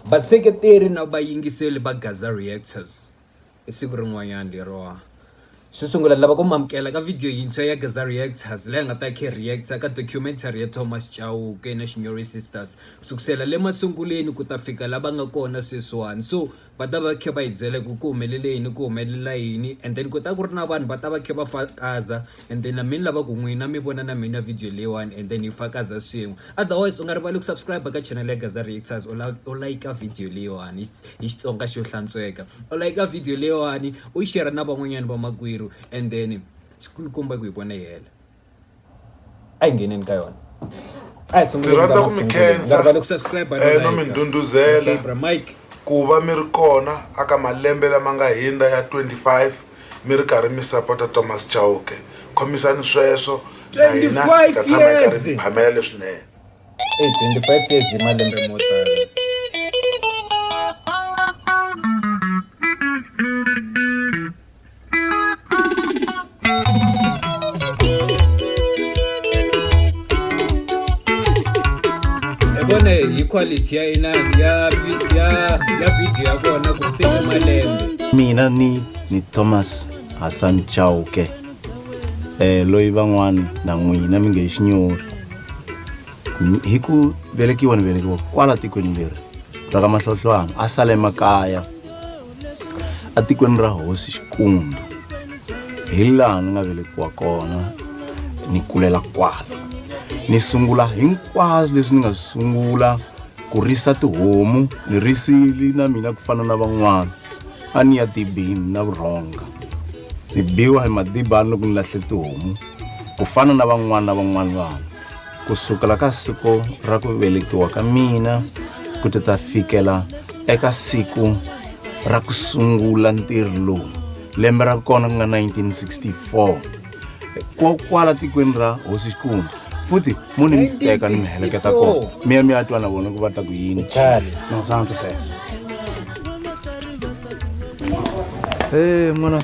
Vaseketeri na vayingiseli va Gaza Reactors i siku rin'wanyana lero xo sungula ni lava ku mi amukela ka video yintshwa ya Gaza Reactors leyi nga ta khe hi reactor ka documentary ya Thomas Chauke na Shinyori Sisters sukusela le masunguleni ku ta fika la va nga kona sweswiwani so va ta va khe va hi byela ku ku humelele yini ku humelela yini and then ku ta ku ri na vanhu va ta va khe va fakaza and then na mi ni lava ku n'wina mi vona na mina video leyiwani and then hi fakaza swin'we otherwise u nga rivali ku subscribe ka channel ya Gaza Reactors u la u like video leyiwani hi Xitsonga xo hlantsweka u like video leyiwani u yi share na van'wanyana vamakwerhu and then xikulukumba ku hi vona yi hela a hi ngheneni ka yona a hi sunguleni ka rhandza ku mi masunguleni. khensa. Nga rivali ku subscribe na Eh, no like. mi ndhundhuzela. Okay, bra Mike ku va mi ri kona aka malembe lama nga hindza ya 25 mi ri karhi mi sapota thomas chauke khomisani sweswo na hina hi 25 ta tshama hi karhi years. hi phamela leswinene Hey, 25 years hi malembe mo tala ebone hi quality ya ina ya vi- ya ya video ya kona ku se ni malembe mina ni ni thomas hassan chauke eh loyi van'wana na n'wina mi nge hi xinyori Ni- hi ku velekiwa ni velekiwa kwala tikweni leri ra ka mahlohlwana a sale makaya etikweni ra hosi xikundu hi laha ni nga velekiwa kona ni kulela kwala ni sungula hinkwaswo leswi ni nga swi sungula ku risa tihomu ni risili na mina ku fana na van'wana a ni ya dibini na vurhonga ni biwa hi madibani loko ni lahle tihomu ku fana na van'wana na van'wana vanhu ku sukela ka siku ra ku velekiwa ka mina ku ti ta fikela eka siku ra ku sungula ntirho lowu lembe ra kona ku nga 1964 kokwala tikweni ra hosi xikungu futhi munhu ni teka ni mi heleketa kona mi ya mi ya twa na vona ku va ta ku yini nasana twisesa e n'wana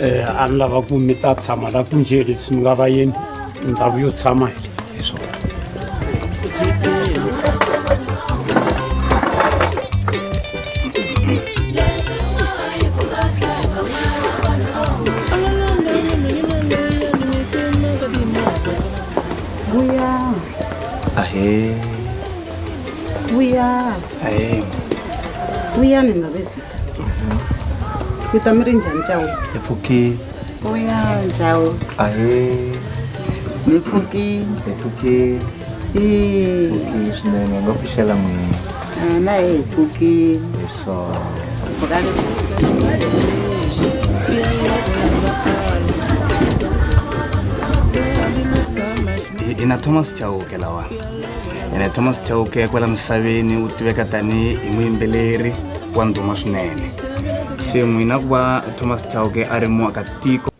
eh, a ni lava ku mi ta tshama la ku nje leswi mi nga va yini ndhawu yo tshama hi swona Ahe. Vuya. Ayy. Vuyani mavezi. Mi ta mi ri njhani cawu? Hi pfukile. Vuya njhawu. Ayy. Mi pfukile. Hi pfukile. Hi pfukile swinene nga pfuxela n'wina. Hina hi pfukile. Hi swona. Pfukani. Hi na Thomas Chauke lawani. ene thomas chauke ya kwala misaveni u tiveka tanihi muyimbeleri wa ndhuma swinene se n'wina ku va thomas chauke a ri muakatiko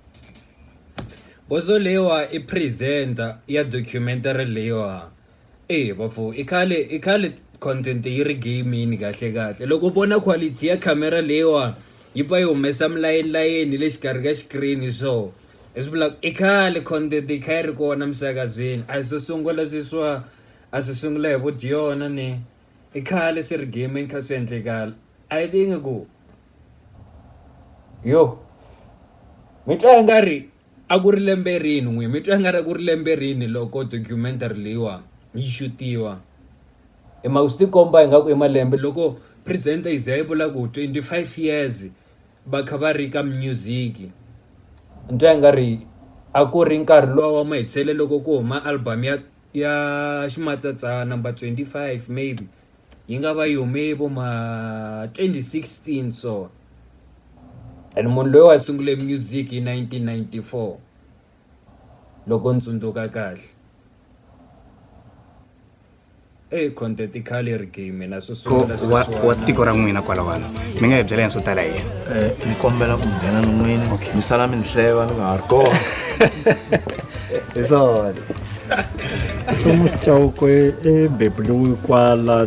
bozo leyiwa i presenter ya documentary leyiwa e bafo i khale i khale content yi ri gamini kahle kahle loko vona quality ya camera leyiwa yi pfa yi humesa milayenilayeni le xikarhi ka xikirini so leswi vulaka i khale content yi kha yi ri kona emisakazweni a hi swo sungula sweswiwa a swi sungula hi vudyona ni i khale swi ri gaming kha swi endlekala a yi tiyi nga ku yo mi twa i nga ri a ku ri lembe rini n'wini mi twa i nga ri a ku ri lembe rini loko documentary leyiwa yi xutiwa hi mhaka swi tikomba ingaku i malembe loko presenter yi za yi vula ku twenty five years. va kha va ri ka music ni twa i nga ri a ku ri nkarhi luwa wa mahetelelo loko ku huma album ya ya Ximatsatsa number twenty five maybe yi nga va yi hume vo ma twenty sixteen so and munhu loyi a sungule music hi nineteen ninety four. Loko ni tsundzuka kahle eyi conteticaleri game na swi sungula wa wa tiko ra n'wina kwalawano mi nga hi byela yini swo tala hi yena Eh, ni kombela ku nghena ni n'wini mi sala mi ni hleva ni nga ha ri kona hi swona Thomas Chauke e bebuliwe kwala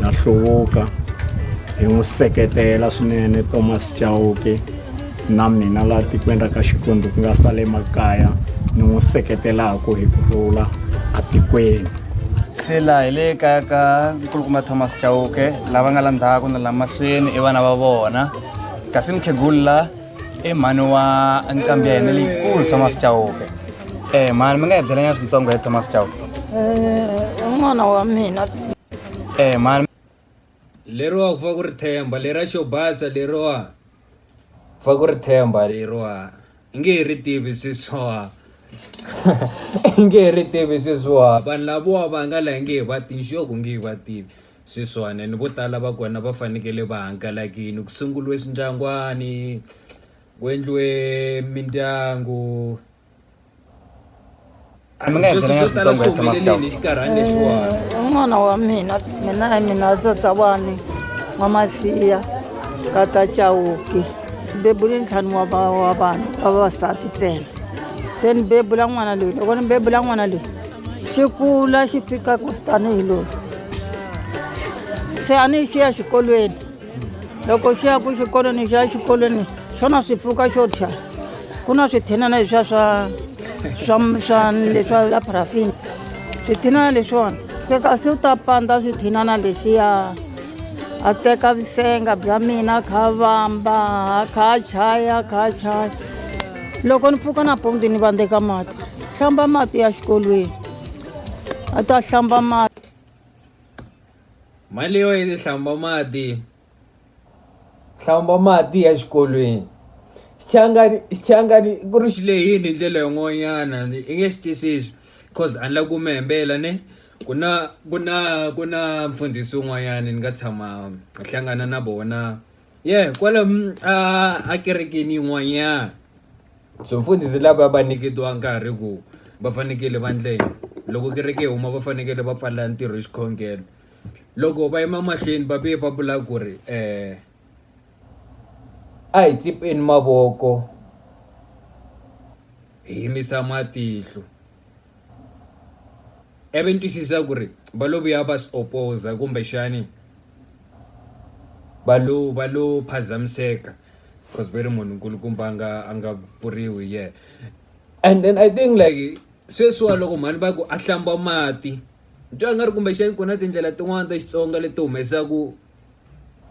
na hluvuka hi n'wi seketela swinene thomas chauke na mina laha tikweni ra ka xikwembu ku nga sale makaya ni n'wi seketelaka hi ku rhula atikweni se laha hi le kaya ka nkulukumba thomas chauke lava nga la ndzhaku na la mahlweni i vana va vona kasi mukhegulu la e mhani wa nqambi ya hina leyikulu thomas chauke e mhani mi nga hi byelanyana switsongo hi thomas chauke n'wana wa mina e mhani leriwa ku fa ku ri themba lera xo basa leriwa ku fa ku ri themba leriwa i nge he ri tivi sweswiwa i nge he ri tivi sweswiwa vanhu lavowa va nga la hi nge he va tivi xo ku nge he va tivi Sweswiwani ni vo tala va kona va fanekele va hangalakile ku sunguriwe swindyangwani ku endliwe mindyangu A mi nga sweswo endlanga swo tala switsongo swi ya tshama humeleleni hi xinkarhani lexiwani un'wana wa mina mina hi mina tsatsawani wa masiya ka ta chawuki ni bebule ntlhanu wa va- wa vanhu va vavasati ntsena se ni bebula n'wana loyi loko ni bebula n'wana loyi xi kula xi fika ku tanihi loyi se a ni xiya xikolweni loko xi ya ku xikolweni xi ya xikolweni xona swi pfuka xo thya ku na swithinana leswiya swa swa swa leswa la parafini swithinana leswiwani se kasi u ta pandza swithinana leswiya a teka vusenga bya mina kha vamba kha chaya kha chaya loko ni pfuka nampundzu ni vandzeka mati hlamba mati ya xikolweni a ta hlamba mati mali yo yi hlamba mati hlamba mati ya xikolweni xichangani xichangani ku ri xi lehini hi ndlela yin'wanyana i nge xi twisisi cause a ni la ku mi hembela ne ku na ku na ku na mfundhisi un'wanyana ni nga tshama hlangana na vona ye kwale mm, a kerekeni yin'wanyana so mfundhisi lava va nyiketiwa nkarhi ku va fanekele va ndleni loko kereke yi huma va fanekele va pfalela ntirho hi xikhongelo loko va yima mahlweni va vuye va vula ku ri um a hi tsipeni mavoko hi yimisa matihlo i ve ni twisisa ku ri va lo vuya va swi opposer kumbexani va lo va lo phazamiseka coz ve ri munhu nkulukumba a nga a nga vuriwi hi yena and then I think like sweswiwa loko mhani va ku a hlamba mati ni twa nga ri kumbexani ku na tindlela tin'wani ta Xitsonga leti humesaku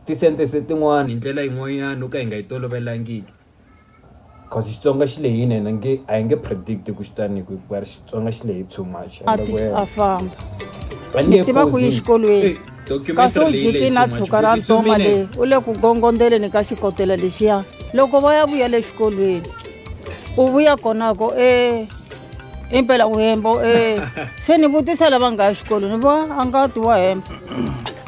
ti-sentence tin'wani hi ndlela yin'wanyani yo ka hi nga yi tolovelangiki. Cause Xitsonga xi lehini and a nge a hi nge predict ku xi tani ku hikuva Xitsonga xi lehe too much. A ti a famba. A ni tiva ku yi xikolweni. Kasi u jike na tshuka ra ntsoma le u le ku gongondeleni ka xikotela lexiya loko va ya vuya le xikolweni u vuya konako e impela uhemba eh se ni vutisa lava nga ya xikolweni va a nga ti wa hemba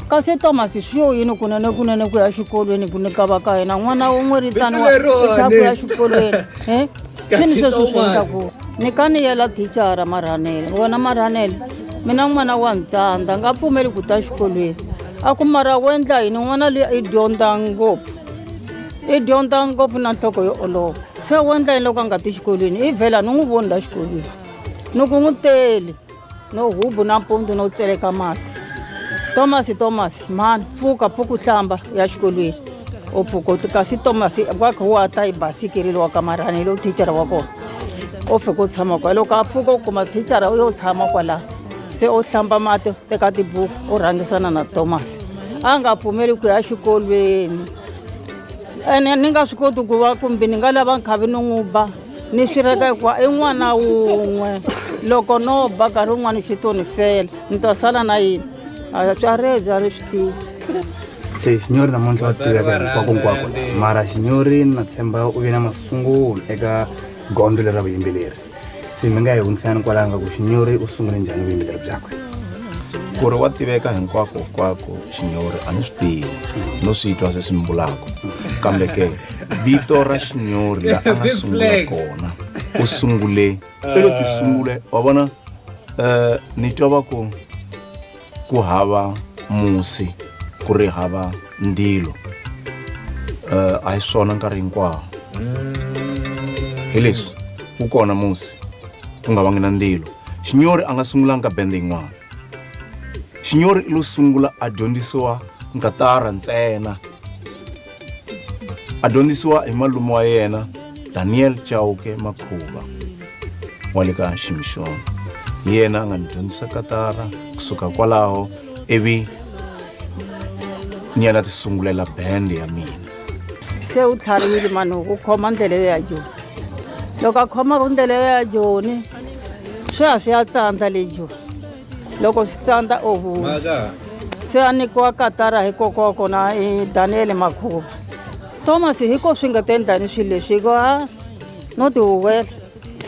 kasi thomas swi yo yini kunene kunene ku ya xikolweni ku ni ka va ka yena n'wana un'we ri taniwa Vito lerone. eka ku ya xikolweni eh Kasi sini sweswo swi Thomas. endlaku ni ka ni yela thicara marhanele wena marhanele mina n'wana wa ntsandza nga pfumeli ku ta xikolweni a ku mara wo endla yini n'wana loyi i dyondza ngopfu i dyondza ngopfu na nhloko yo olova se wo endla yini loko a nga ti xikolweni i vhela ni n'wi voni la xikolweni ni ku n'wi tele no hubu nampundzu no tseleka mati thomas thomas mhani pfuka pfuka u hlamba ya xikolweni u pfuka u kasi thomas wa kha wa ta yi basikirile wa kamarhani hi lowu thichara wa kona u fika u tshama kwala loko a pfuka u kuma thichara u yo tshama kwalaho se u hlamba mati teka tibuku u rhangisana na thomas a nga pfumeli ku ya xikolweni ene ni nga swi koti ku va kumbe ni nga lava nkhavi ni n'wi ba ni swi reka hikuva i n'wana wun'we loko no ba nkarhi wun'wana xi to ni fela ni ta sala na yini atswareja ri swi tiva se xinyori namuntlha wa tiveka hinkwakonkwako mara xinyori na tshemba u ve na masungulo eka gondzo leri ra vuyimbeleri se mi nga yi hundzisani kwalaho nga ku xinyori u sungule njhani vuyimbeleri byakwe ku ri wa tiveka hinkwako hinkwako xinyori a ni swi tivi no swi twa sweswi ni vulaka kambe ke vito ra xinyori la a nga sungula kona u sungule i lo ti sungule wa vona um ni twa va ku ku hava musi ku ri hava ndilo um a hi swona nkarhi hinkwawo hi leswi wu kona musi ku nga vangi na ndilo xinyori a nga sungulanga bende yin'wana xinyori i lo sungula a dyondzisiwa nkatara ntsena a dyondzisiwa hi malume wa yena daniel chauke makhuva wa le ka ximixoni hi yena a nga ni dyondzisa katara kusuka kwalaho ivi ni yena ti sungulela band ya mina se u tlhariwile mano ku khoma ndlela yo ya joni loko a khoma ku ndlela yo ya joni swi ya swi ya tsandza le joni loko swi tsandza ohu se a nyikiwa katara hi kokwa wa kona i daniyele makhuva thomas hi ko swi nga ta endlani swilo leswi hikuva a no tihuwela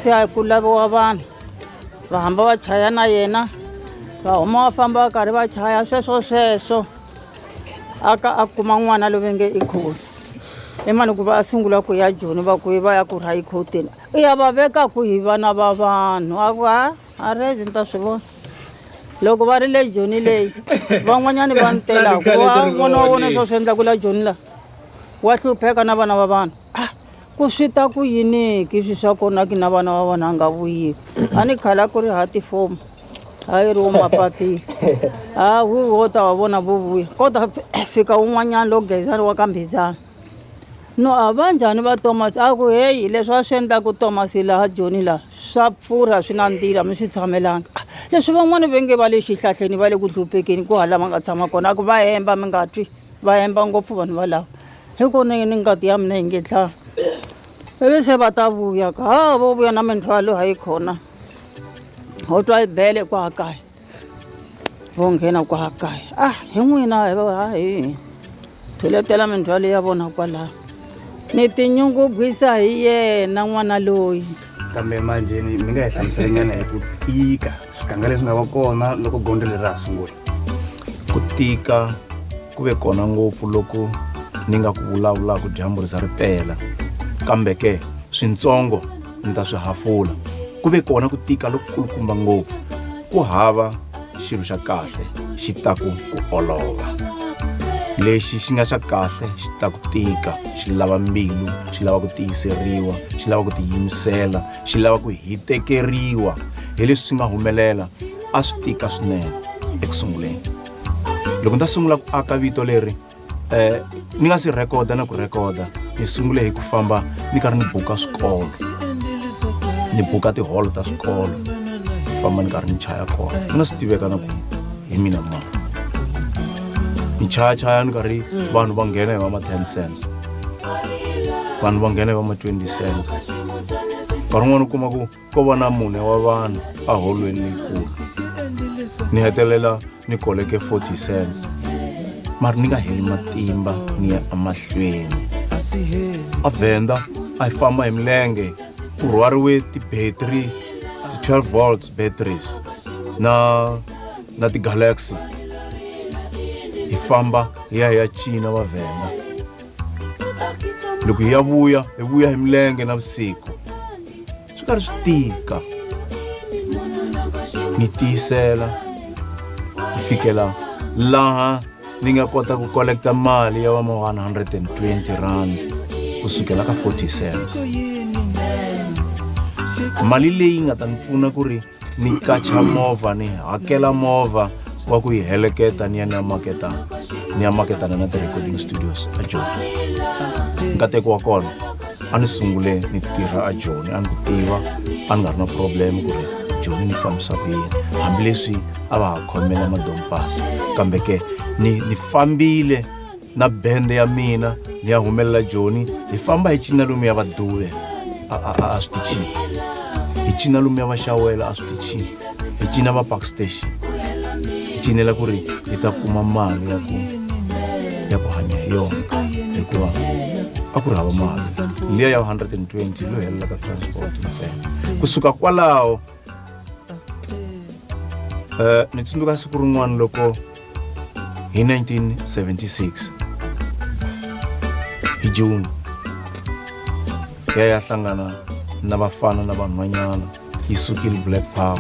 se a ku laviwa vanhu va hamba va chaya na yena va huma va famba va karhi va chaya sweswo sweswo a ka a kuma n'wana loyi nge i khoti i mani ku va a sungula ku ya joni va ku va ya ku rha yi khoteni i ya va veka ku hi vana va vanhu a ku ha a rezi ni ta swi vona loko va ri le joni leyi van'wanyani va ni telaka vona wa vona swa swi endla ku la joni la wa hlupheka na vana va vanhu ah, ku swi ta ku yiniki swi swa kona ki na vana va vona a nga vuyiki a ni khala ku ri ha tifomu a yi ri wo mapatile a wu wo ta wa vona vo vuya kota fika un'wanyana lo gezani wa ka mbhizana No a va njhani va Tomasi? A ku, Heyi, leswi va swi endlaku Tomasi laha Joni laha, swa pfurha, swi nandzila, a mi swi tshamelanga. Leswi van'wana va nge va le xihlahleni, va le ku dlupekeni kwahala va nga tshama kona, a ku, Va hemba, mi nga twi, va hemba ngopfu vanhu valava, hi ku ni, ni ngati ya mina yi nge dlayi. Ivi se va ta vuya ka, ha, vo vuya na mindzhwalo, ha yi khona, ho twa yi bele kwaha kaya. vo nghena kwala kaya a ah, hi n'wina hi va ha hi thuletela mindzhwalo ya vona kwalaho ni tinyungubyisa hi yena n'wana loyi kambe manjheni mi nga hi hlamuselenyana hi ku tika swiganga leswi nga va kona loko gondzo leri ra ha sungula ku tika ku ve kona ngopfu loko ni nga ku vulavulaka dyambu ri za ri pela kambe ke swintsongo ndzi ta swi hafula ku ve kona ku tika lokukulukumba ngopfu ku hava xilo xa kahle xi ta ku ku olova lexi xi nga xa kahle xi ta ku tika xi lava mbilu xi lava ku tiyiseriwa xi lava ku tiyimisela xi lava ku hitekeriwa hi leswi swi nga humelela a swi tika swinene eku sunguleni loko ni ta sungula ku aka vito leri um ni nga si rhekoda na ku rhekoda ni sungule hi ku famba ni karhi ni buka swikolo ni buka tiholo ta swikolo famba ni karhi ni chaya kona ni nga swi tiveka na ku hi mina mani ni chayachaya ni karhi vanhu va nghena hi va ma ten cents vanhu va nghena hi va ma twenty cents nkarhi un'wana u kuma ku ko va na mune wa vanhu eholweni leyikulu ni hetelela ni koleke 40 cents mari ni nga heli matimba ni ya emahlweni a vhenda a yi famba hi milenge ku rhwariwe ti-battery ti-12 volts batteries na na ti-galaxy hi famba hi ya hi ya cina va vhenda loko hi ya vuya hi vuya hi milenge na vusiku swi karhi swi tika ni tiyisela ku fikela laha ni nga kota ku kolekta mali ya vama 120 rand kusukela ka 40 cents mali leyi nga ta ni pfuna ku ri ni qacha movha ni hakela movha wa ku yi heleketa ni ya ni ya maketa ni ya maketana na ti-recording studios a joni nkateko wa kona a ni sungule ni tirha a joni a ni ku tiva a ni nga ri na problem ku ri joni ni fambisa ku yini hambileswi a va ha khomela madompasi kambe ke ni ni fambile na bende ya mina ni ya humelela joni hi famba hi cina lomu ya vaduve a a a a swi ti chini hi cina lomu ya vaxawela a swi ti chini hi cina va park station hi cinela ku ri hi ta kuma mali ya ku ya ku hanya hi yona hikuva a ku ri hava mali liya ya 120 lo helela ka transport ntsena kusuka kwalaho uh, ni tsundzuka siku rin'wana loko hi 1976 hi juni ya ya hlangana na vafana na vanhwanyana yi sukile black power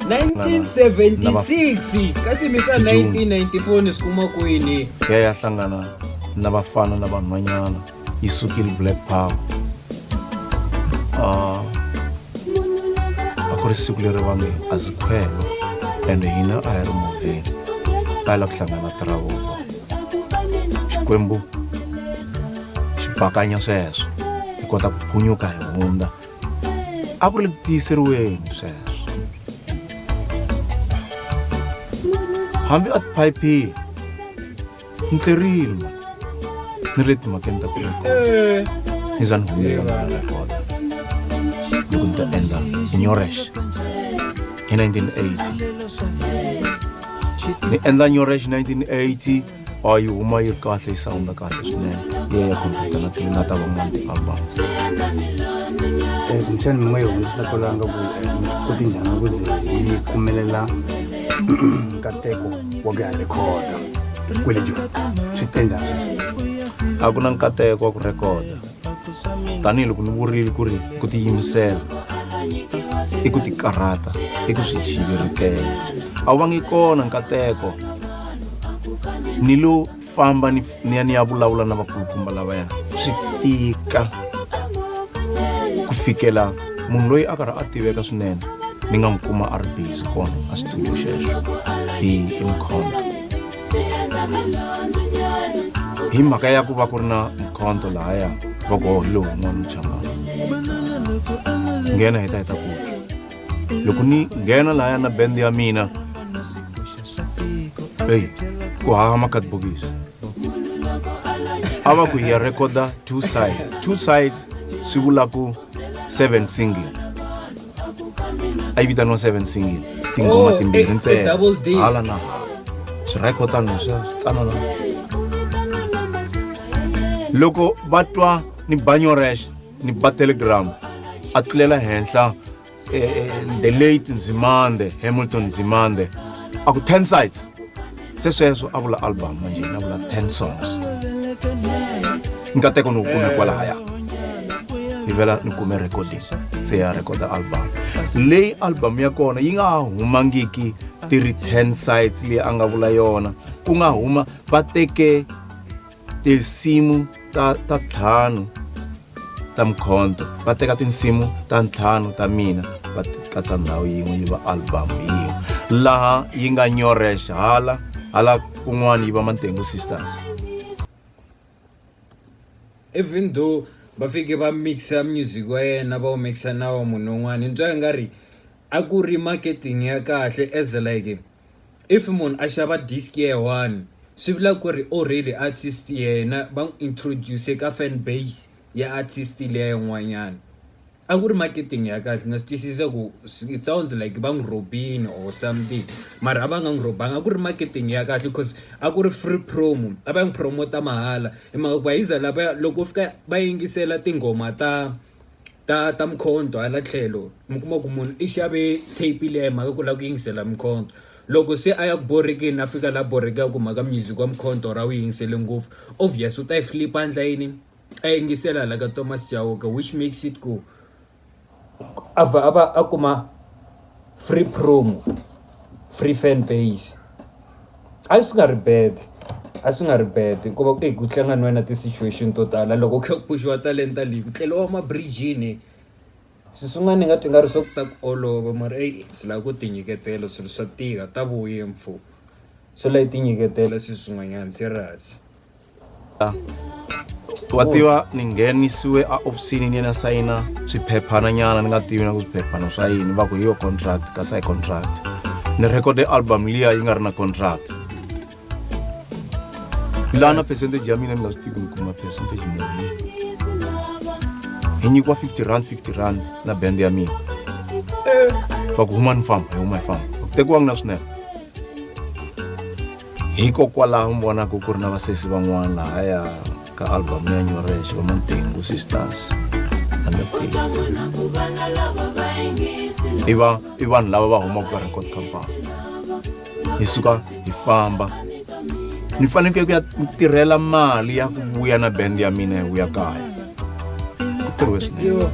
1976 kasi mi swa 1994 ni swi kuma kwini ya ya hlangana na vafana na vanhwanyana yi sukile black power uh, a ku ri siku leri va nge a zi khwela ende hina a hi ri movheni a yi lava ku hlangana tiravoko xikwembu xi bakanya sweswo hi kota ku phunyuka hi hundza a ku ri ku tiyiseriweni sweswo hambi a tiphayiphile ntirimo ni ri timhakeni ta ku eh. ni za ni humela na nga kona ni ku ni ta endla nyorex hi 1980 ni endla nyorex 1980 a yi huma yi ri kahle yi sawunda kahle swinene leyi ya khompyuta na tlilina ta van'wana ti-album kumbexani mi nga yi hundzisa ku langa ku eh, mi swi koti njhani ku ze yi pfumelela nkateko wa ku ya rhekhoda kwelejo swi te njhani a ku na nkateko wa ku rhekhoda tanihiloko ni vurile ku ri ku tiyimisela i ku tikarhata i ku swi chivirikela a wu va ngi kona nkateko ni lo famba ni ni ya ni ya vulavula na vakulukumba lavaya swi tika ku fikela munhu loyi a karhi a tiveka swinene ni nga n'wi kuma a ri busy kona a studio xexo hi imkhonto hi mhaka ya ku va ku ri na mkhonto lahaya va ku hohi lowu n'wana muchangana nghena hi ta hi ta ku loko ni nghena lahaya na bendi ya mina eyi ku hava makadibokisi a va ku hi ya rekoda two sides two sides swi vulaku seven single a yi vitaniwa seven single tinghoma oh, timbirhi ntsena hala na swi rekodani swi tsanana loko va twa ni banyorexe ni ba telegram a tlulela henhla eh, eh, the late nzimande hamilton nzimande a ku 10 sites se sweswo a vula album manje na vula 10 songs nkateko ni wu kume kwalaya ni vela ni kume recording se ya recorda album leyi album ya kona yi nga ha humangiki ti ri 10 sites leyi a nga vula yona ku nga huma va teke tinsimu ta ta ntlhanu ta mkhonto va teka tinsimu ta ntlhanu ta mina va katsa ndhawu yin'we yi va album yin'we laha yi nga nyorex hala hala kun'wana yi va mantengu sisters even though va fike va mixa music wa yena va wu mixa na wa munhu un'wana ni twa i nga ri a ku ri marketing ya kahle as like if munhu a xava disk ya yi one swi vula ku ri already artist yena va n'wi introduce ka fan base ya artist liya yin'wanyana a ku ri marketing ya kahle na swi twisisa ku it sounds like va n'wi robini or something mara a va nga n'wi robanga a ku ri marketing ya kahle cause a ku ri free promo a va n'wi promote mahala hi mhaka ku va yi za lava loko fika va yingisela tinghoma ta ta ta Mkhonto hala tlhelo mi kuma ku munhu i xave tape liya hi mhaka ku lava ku yingisela Mkhonto loko se a ya ku borhekeni a fika laha borhekaka hi mhaka music wa Mkhonto or a wu yingisele ngopfu obvious u ta yi flip a endla yini a yingisela hala ka Thomas Chauke which makes it ku a vha a va a kuma. free promo, free fan base a swi nga ri bad a swi nga ri bad hikuva ku ku tlanga ni wena ti-situation to tala loko u kha u pfuxiwa talenta leyi ku tleriwa mabirijini swilo swin'wana ni nga twa nga ri swa ku ta ku olova mara eyi swi lava ku ti nyiketela swilo swa tika ta vuya mfo swi lava hi ti nyiketela swilo swin'wanyana serious. wa tiva ni nghenisiwe a ofisini ni yena sayina swiphepphana nyana ni nga tivi na ku swiphepphana swa yini va ku hi yo contract kasi a hi contract ni recorde album liya yi nga ri na contract lana percentage ya mina ni nga swi tivi ni kuma percentage muni hi nyikiwa 50 rand 50 rand na band ya mina va ku huma ni famba hi huma hi famba ku tekiwangi na swinepe hikokwalaho mi vonaka ku ri na vasesi van'wana lahaya ka albhamu ya nyorexi va mantengu sisters i va i vanhu lava va humaka ka record company hi suka hi famba ni fanekele ku ya tirhela mali ya ku vuya na band ya mina hi vuya kaya ku tirhiwe swinene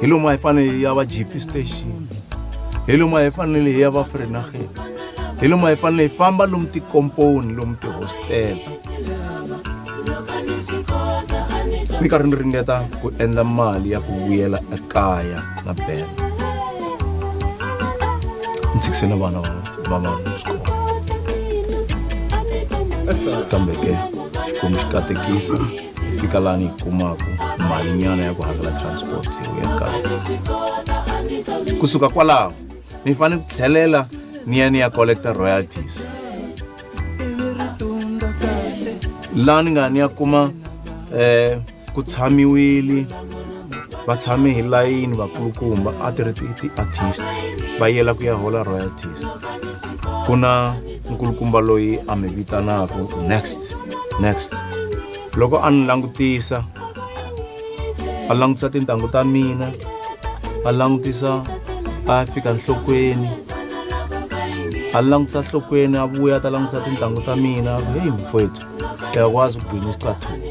hi lomu a hi fanele ya va gp station hi lomu a hi fanele hi ya va frenageni hi lomu hi fanele hi famba lomu tikomponi lomu tihostela ni karhi ni ringeta ku endla mali ya ku vuyela ekaya na bela ni tshikise na vana va vana xikolo kambe ke xikwembu xi katekisa fika laha ni yi kumaka malinyana ya ku hakela transport hi ya kaya kusuka kwalaho mi fanele ku tlhelela ni ya ni ya collecta royalties laha ni nga ni ya kuma eh ku tshamiwile va tshame hi layini vakulukumba a ti ri ti-artist va yela ku ya hola royalties ku na nkulukumba loyi a mi vitanaka next next loko a ni langutisa va langutisa tintangu ta mina va langutisa va fika nhlokweni a langutisa nhlokweni a vuya ta langutisa tintangu ta mina heyi mfowethu yakwazi ukugwina isicathulo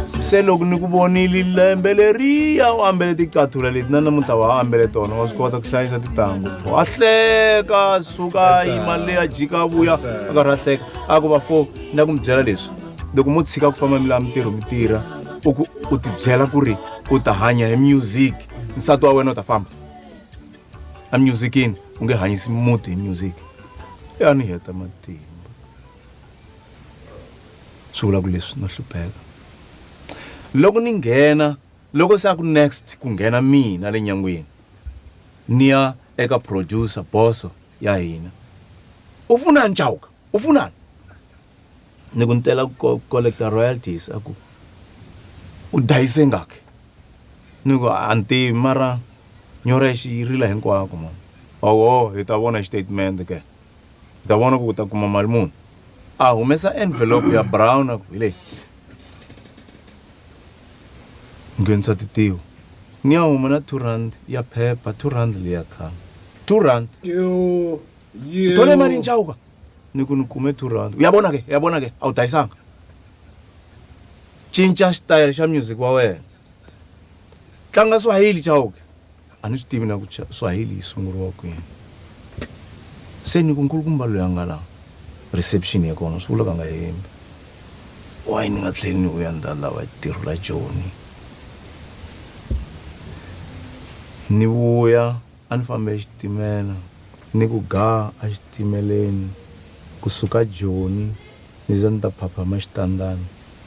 se loko ni ku vonile lembe leriya u ambele ticathula leti na namuntlha wa ambele tona wa swi kota ku hlayisa titanghu wa hleka suka yima leya jika vuya a karhi a hleka a ku va fo na ku mi byela leswi loko mo tshika ku famba mi lava mintirho mi tirha u ku u tibyela ku ri u ta hanya hi music nsati wa wena u ta famba a musicini u nge hanyisi muti hi music ya ni heta matimba swi vula ku leswi no hlupheka loko ni nghena loko se a ku next ku nghena mina le nyangweni ni ya eka producer boso ya hina u funani chawuka u funani ni ku ni tela ku ko- collector royalties a ku u dayise ngaki ni ku a ni tivi mara nyora yi xi- yi rila hinkwako mani oho hi ta vona xitatimende ke hi ta vona ku u ta kuma mali muni a humesa envelope ya brown a ku hi leyi nghenisa titiwo ni ya huma na two rand ya phepha two rand leya khana two rand yo yo tole mali nchawuka ni ku ni kume two rand uyabona ke uyabona ke a wu dayisanga cinca xitayele xa music wa wena tlanga swahili chawuke a ni swi tivi na ku swahili yi sunguriwa kwini se ni ku nkulukumba loyi a nga la reception ya kona swi vula va nga hembi wayi ni nga tlheli ni vuya ndza lava tirho la joni ni vuya A ni fambe hi xitimela ni ku gaa a xitimeleni ku suka Joni ni za ni ta phaphama Xitandani,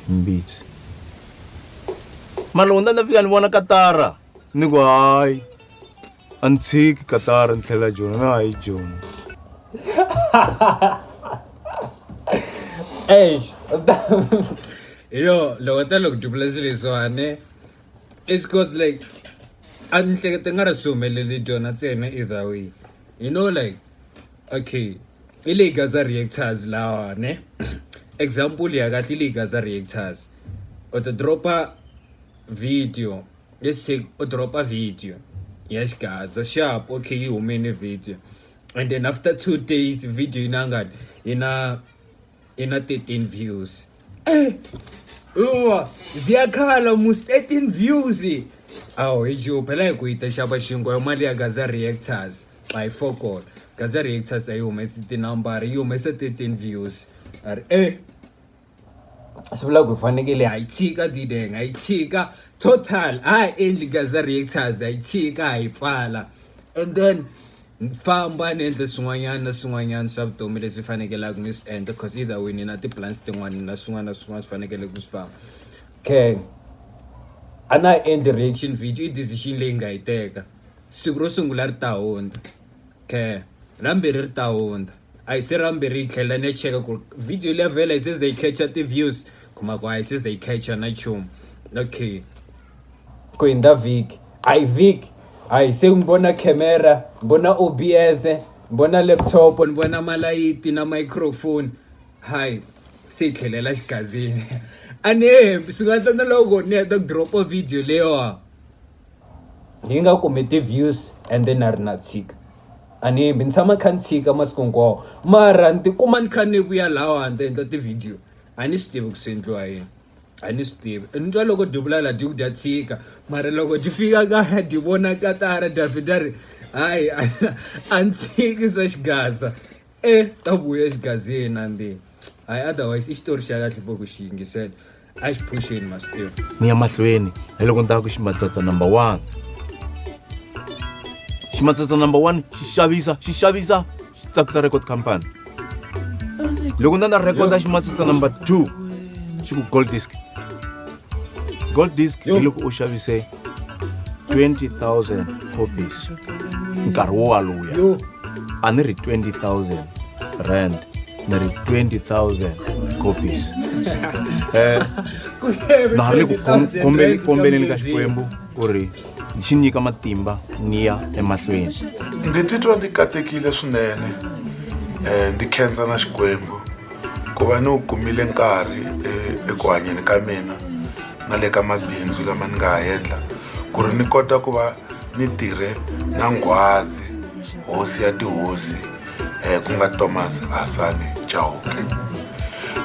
Mbitsi. Malunga ni ta fika ni vona Katara ni ku hayi a ni tshiki Katara ni tlhelela Joni ni hayi Joni. Eish hi yo loko u ta loko dubula swilo leswiwani. it's cause like a ni hleketa nga ri swi humelele dyona ntsena either way you know like okay i leyi gaza reactors lawa ne example ya kahle i leyi gaza reactors u ti dropa video let's say u dropa video ya xigaza sharp okay yi humene video and then after two days video yi na ngani yi na i na 13 views eh uwa ziyakhala mus 13 views awu hi ju phela hi ku yi ta xava xinkwa yo mali ya gaza reactors by focol gaza reactors a yi humesi tinambara yi humesa 13 views ari eh swi vula ku hi fanekele ha yi tshika dideng ha yi tshika total ha ha endli gaza reactors ha yi tshika ha yi pfala and then ni famba ni endle swin'wanyana na swin'wanyana swa vutomi leswi fanekelaka ni swi endla cause either way ni na ti-plans tin'wani na swin'wana na swin'wana swi fanekele ku swi famba kay a na ha endli reaction video i decision leyi nga yi teka siku ro sungula ri ta hundza kay ra vumbirhi ri ta hundza a hi se ra vumbirhi yi tlhela ni ya cheka ku ri video leyi vhela yi se za yi catch-a ti-views kuma ku a yi se za yi catch-a na nchumu okay ku hundza vhiki a hi vhiki hayi se ni vona camera ni vona O_B_S ni vona laptop ni vona malayithi na microphone hayi se hi tlhelela xigazini a ni nge hembi swi nga endla na loko ni heta ku drop video leyiwa yi nga kumi ti-views and then na ri na tshika a ni hembi ni tshama ni kha ni tshika masiku hinkwawo mara ni tikuma ni kha ni vuya lahawani ni ta endla ti-video a ni swi tivi ku swi endliwa yini. a ni swi tivi ni twa loko dyi vula la dyi ku dya tshika mara loko dyi fika kaya dyi vona katara dya vheta ri hayi a ni tshiki swa xigaza e ta vuya xigazini na ndi hayi otherwise i xitori xa kahle for ku xi yingisela a xi phuxeni ma swi tiva ni ya mahlweni hi loko ni tava ku ximatsatsa number one ximatsatsa number one xi xavisa xi xavisa swi tsakisa record company loko na na recorda ximatsitsa number two xi ku gold disc gold disc hi loko u xavise 20000 copies nkarhi wo waluya a ni ri 20000 rand ni ri 20000 copies um na ha le ku kombeleni ka xikwembu ku ri xi nyika matimba ni ya emahlweni ndzi titwa ndzi katekile swinene um ndzi khensa na xikwembu ku va ni wu kumile nkarhi eh, eku hanyeni ka mina na le ka mabindzu lama ni nga ha endla ku ri ni kota ku va ni tirhe na nghwazi hosi ya tihosi um ku nga thomas hasani chauke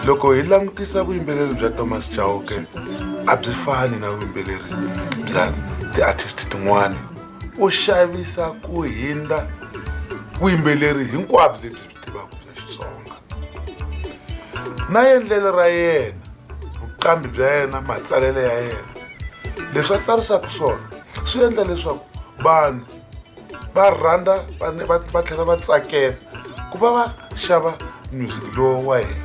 loko hi langutisa vuyimbeleri bya thomas chauke a byi fani na vuyimbeleri bya ti-artist tin'wana u xavisa ku hindza vuyimbeleri hinkwabyo lebyi byi tivaka bya xitsonga na endlelo ra yena vuqambi bya yena matsalelo ya yena leswi a tsarisaka swona swi endla leswaku vanhu va rhandza va tlhela va tsakela ku va va xava music lowu wa hina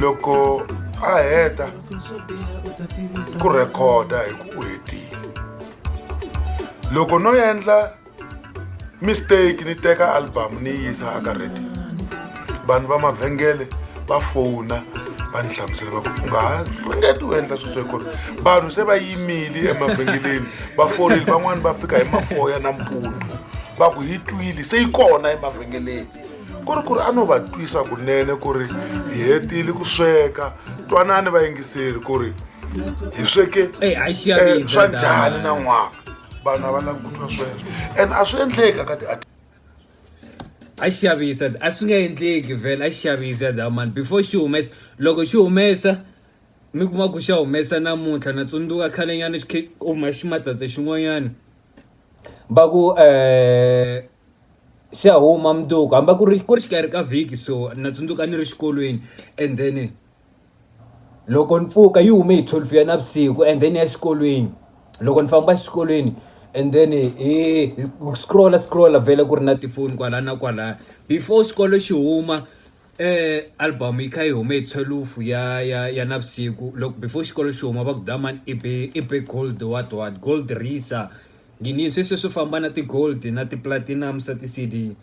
loko a heta ku rhekhoda hi ku u hetile loko no endla mistake ni teka album ni yi yisa aka radio vanhu va mavhengele va fona va ni hlamusela va ku u nga ha ringeti u endla sweswo ku ri vanhu se va yimile emavhengeleni va fonile van'wani va fika hi mafoya na mpundzu va ku yi twile se yi kona emavhengeleni ku ri ku ri a no va twisa kunene ku ri hi hetile ku sweka twanani va yingiseri ku ri hi sweke eh, eh, swa njhani na n'wana vanhu a va lavi ku twa sweswo and a swi endleki ka ti a xi xavisa a swi nga endleki vhele a xi xavisa that mani before xi humesa loko xi humesa mi kuma ku xa humesa namuntlha na tsundzuka khale nyana xi khe kuma ximatsatsa xin'wanyana va ku um xi ya huma mundzuku hambi ku ri ku ri xikarhi ka vhiki so na tsundzuka ni ri xikolweni and then. Loko ni pfuka yi hume hi twelve ya navusiku and then ya exikolweni loko ni famba exikolweni and then hi scroll-a scroll-a vhele ku ri na tifoni kwala na kwala before xikolo xi huma album yi kha yi hume hi thwelufu ya ya ya navusiku loko before xikolo xi huma va ku dlhamani i be i be gold what what gold risa yini sweswiya swo famba na ti-gold na ti-platinum swa ti-C_D.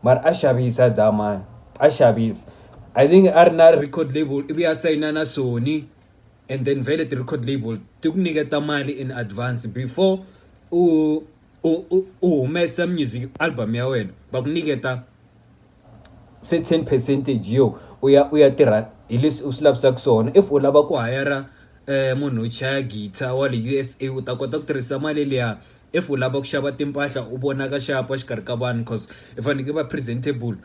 mara a xavisa a dlaya mani a xavisa I think a ri na record label ivi a sayina na Sony and then vhele ti-record label ti ku nyiketa mali in advance before u u u u humesa music album ya wena va ku nyiketa se ten percentage yo u ya u ya tirha hi leswi u swi lavisaka swona if u lava ku hayara munhu wo chaya guitar wa le U_S_A u ta kota ku tirhisa mali liya. if u lava ku xava timpahla u vona ka xapa xikarhi ka vanhu coz i fanekele va presentable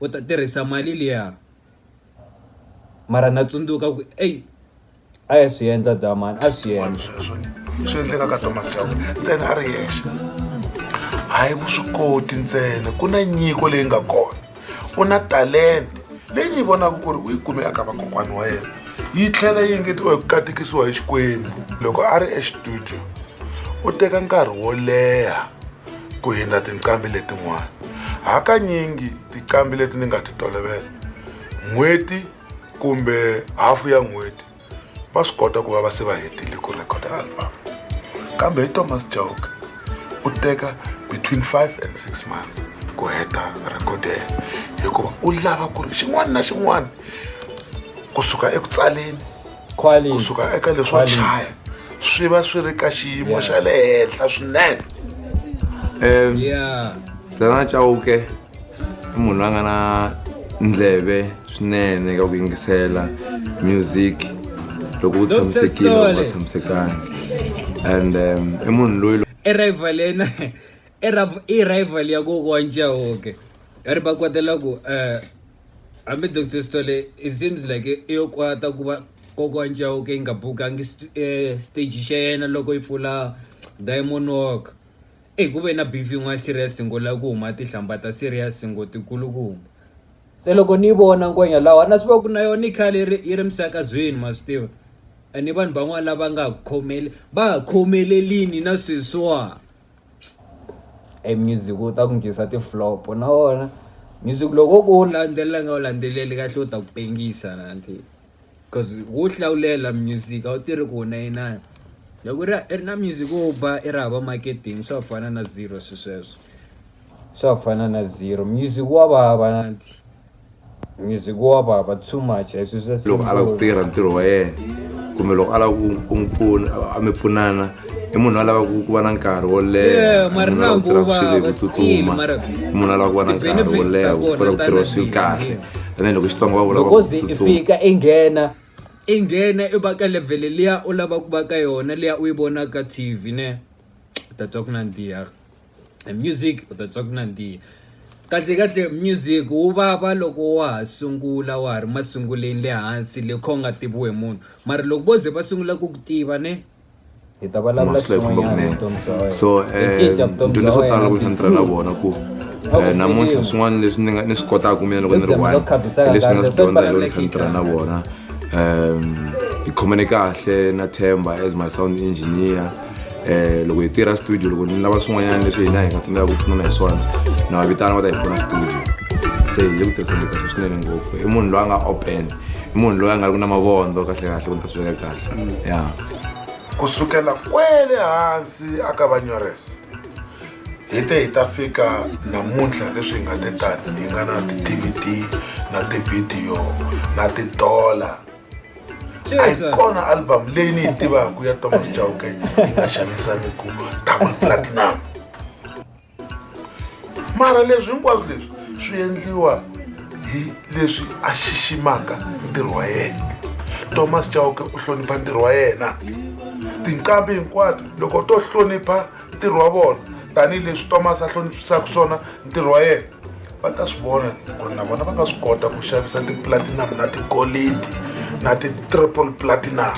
u ta tirhisa mali liya mara na tsundzuka ku ey a ya swi endla damani a swi endla sweswo swi endleka ka thomas chauke ntsena a ri yexe hayi vuswikoti ntsena ku na nyiko leyi nga kona u na talenta leyi ni vonaka ku ri u yi kume aka vakokwana wa yena yi tlhela yi engetiwa hi ku katekisiwa hi xikwembu loko a ri exitudio u teka nkarhi wo leha ku hindza tinqambi letin'wana hakanyingi tinqambi leti ni nga ti tolovela n'hweti kumbe hafu ya n'hweti va swi kota ku va va se va hetile ku record album kambe hi thomas joke u teka between five and six months ku heta record ya yena hikuva u lava ku ri xin'wana na xin'wana kusuka eku tsaleni kusuka eka leswo chaya swi va swi ri ka xiyimo xa le henhla swinene um dana chauke i munhu loyi a nga na ndleve swinene ka ku yingisela music loko u tshamisekile u nga tshamisekangi and um, i munhu loyi i rival yena i rival ya kokwa njahoke ri va kwatela ku um hambi doctor stole it seems like i yo kwata ku va kokwa njahoke yi nga bukangi eh, stage xa yena loko yi pfula diamond walk Eyi ku ve na beef yin'wana serious ngo lava ku huma tinhlamba ta serious ngo ti kulukumba se loko ni yi vona ngwenya lawa na swi va ku na yona yi khale yi ri yi ri misakazweni ma swi tiva ene vanhu van'wana lava nga khomele va ha khomelelini na sweswiwa e music wu ta ku nghenisa ti-flop na wona music loko wo ka wu landzelela nga wu landzeleli kahle wu ta ku pengisa na . coz wo hlawulela music a wu tirhi ku wu na inani loko i ri i ri na music wo ba i ri hava marketing swa ku fana na zero swi sweswo swa ku fana na zero music wa vava music wa vava too much a hi swi swa loko a lava ku tirha ntirho wa yena kumbe loko a lava ku ku mi pfuna a mi pfunana i munhu a lavaku ku va na nkarhi wo leha munhu a lava ku tirha swilo hi ku tsutsuma munhu a lava ku va na nkarhi wo leha ku kota ku tirha swilo kahle and then loko xitsonga va vula loko ze i fika i nghena i nghena i va ka levhele liya u lava ku va ka yona liya u yi vonaka tv ne u ta twa ku nandziha music u ta twa ku nandziha kahle kahle music wu vava loko wa ha sungula wa ha ri masunguleni le hansi le kha u nga tiviwi hi munhu mara loko vo ze va sungula ku ku tiva ne. hi ta vulavula xin'wanyana hi vutomi bya wena so nto leswo tala loko ni tirha na vona ku eh, namuntlha swin'wana leswi ni nga ni swi kotaka mina loko ni ri one leswi ni nga swi dyondza hi loko ni kha ni tirha na vona um hi khomene kahle na themba as my sound engineer um loko hi tirha studio loko ni lava swin'wanyana leswi hina hi nga tsandzeka ku pfunana hi swona na va vitana va ta hi pfuna studio se hi le ku tirhiseni kahle swinene ngopfu i munhu loyi a nga open i munhu loyi a nga ri ku na mavondzo kahle kahle ku ni ta swi veka kahle mm. ya ku sukela kwele hansi a ka vanyoresa hi te hi ta fika namuntlha leswi hi nga te tani hi nga na ti-dvd na tivhidiyo na ti-dollar a yi kona album leyi ni yi tivaka ya thomas jauke yi nga xanisaniku tama platinum mara leswi hinkwaswo leswi swi endliwa hi leswi a xiximaka ntirho wa yena thomas chauke u hlonipha ntirho wa yena tinqambi hinkwato loko to hlonipha ntirho wa vona tanihileswi thomas a hloniphisaka swona ntirho wa yena va ta swi vona ku ri na vona va nga swi kota ku xavisa ti-platinum na tigolidi na ti-triple platinum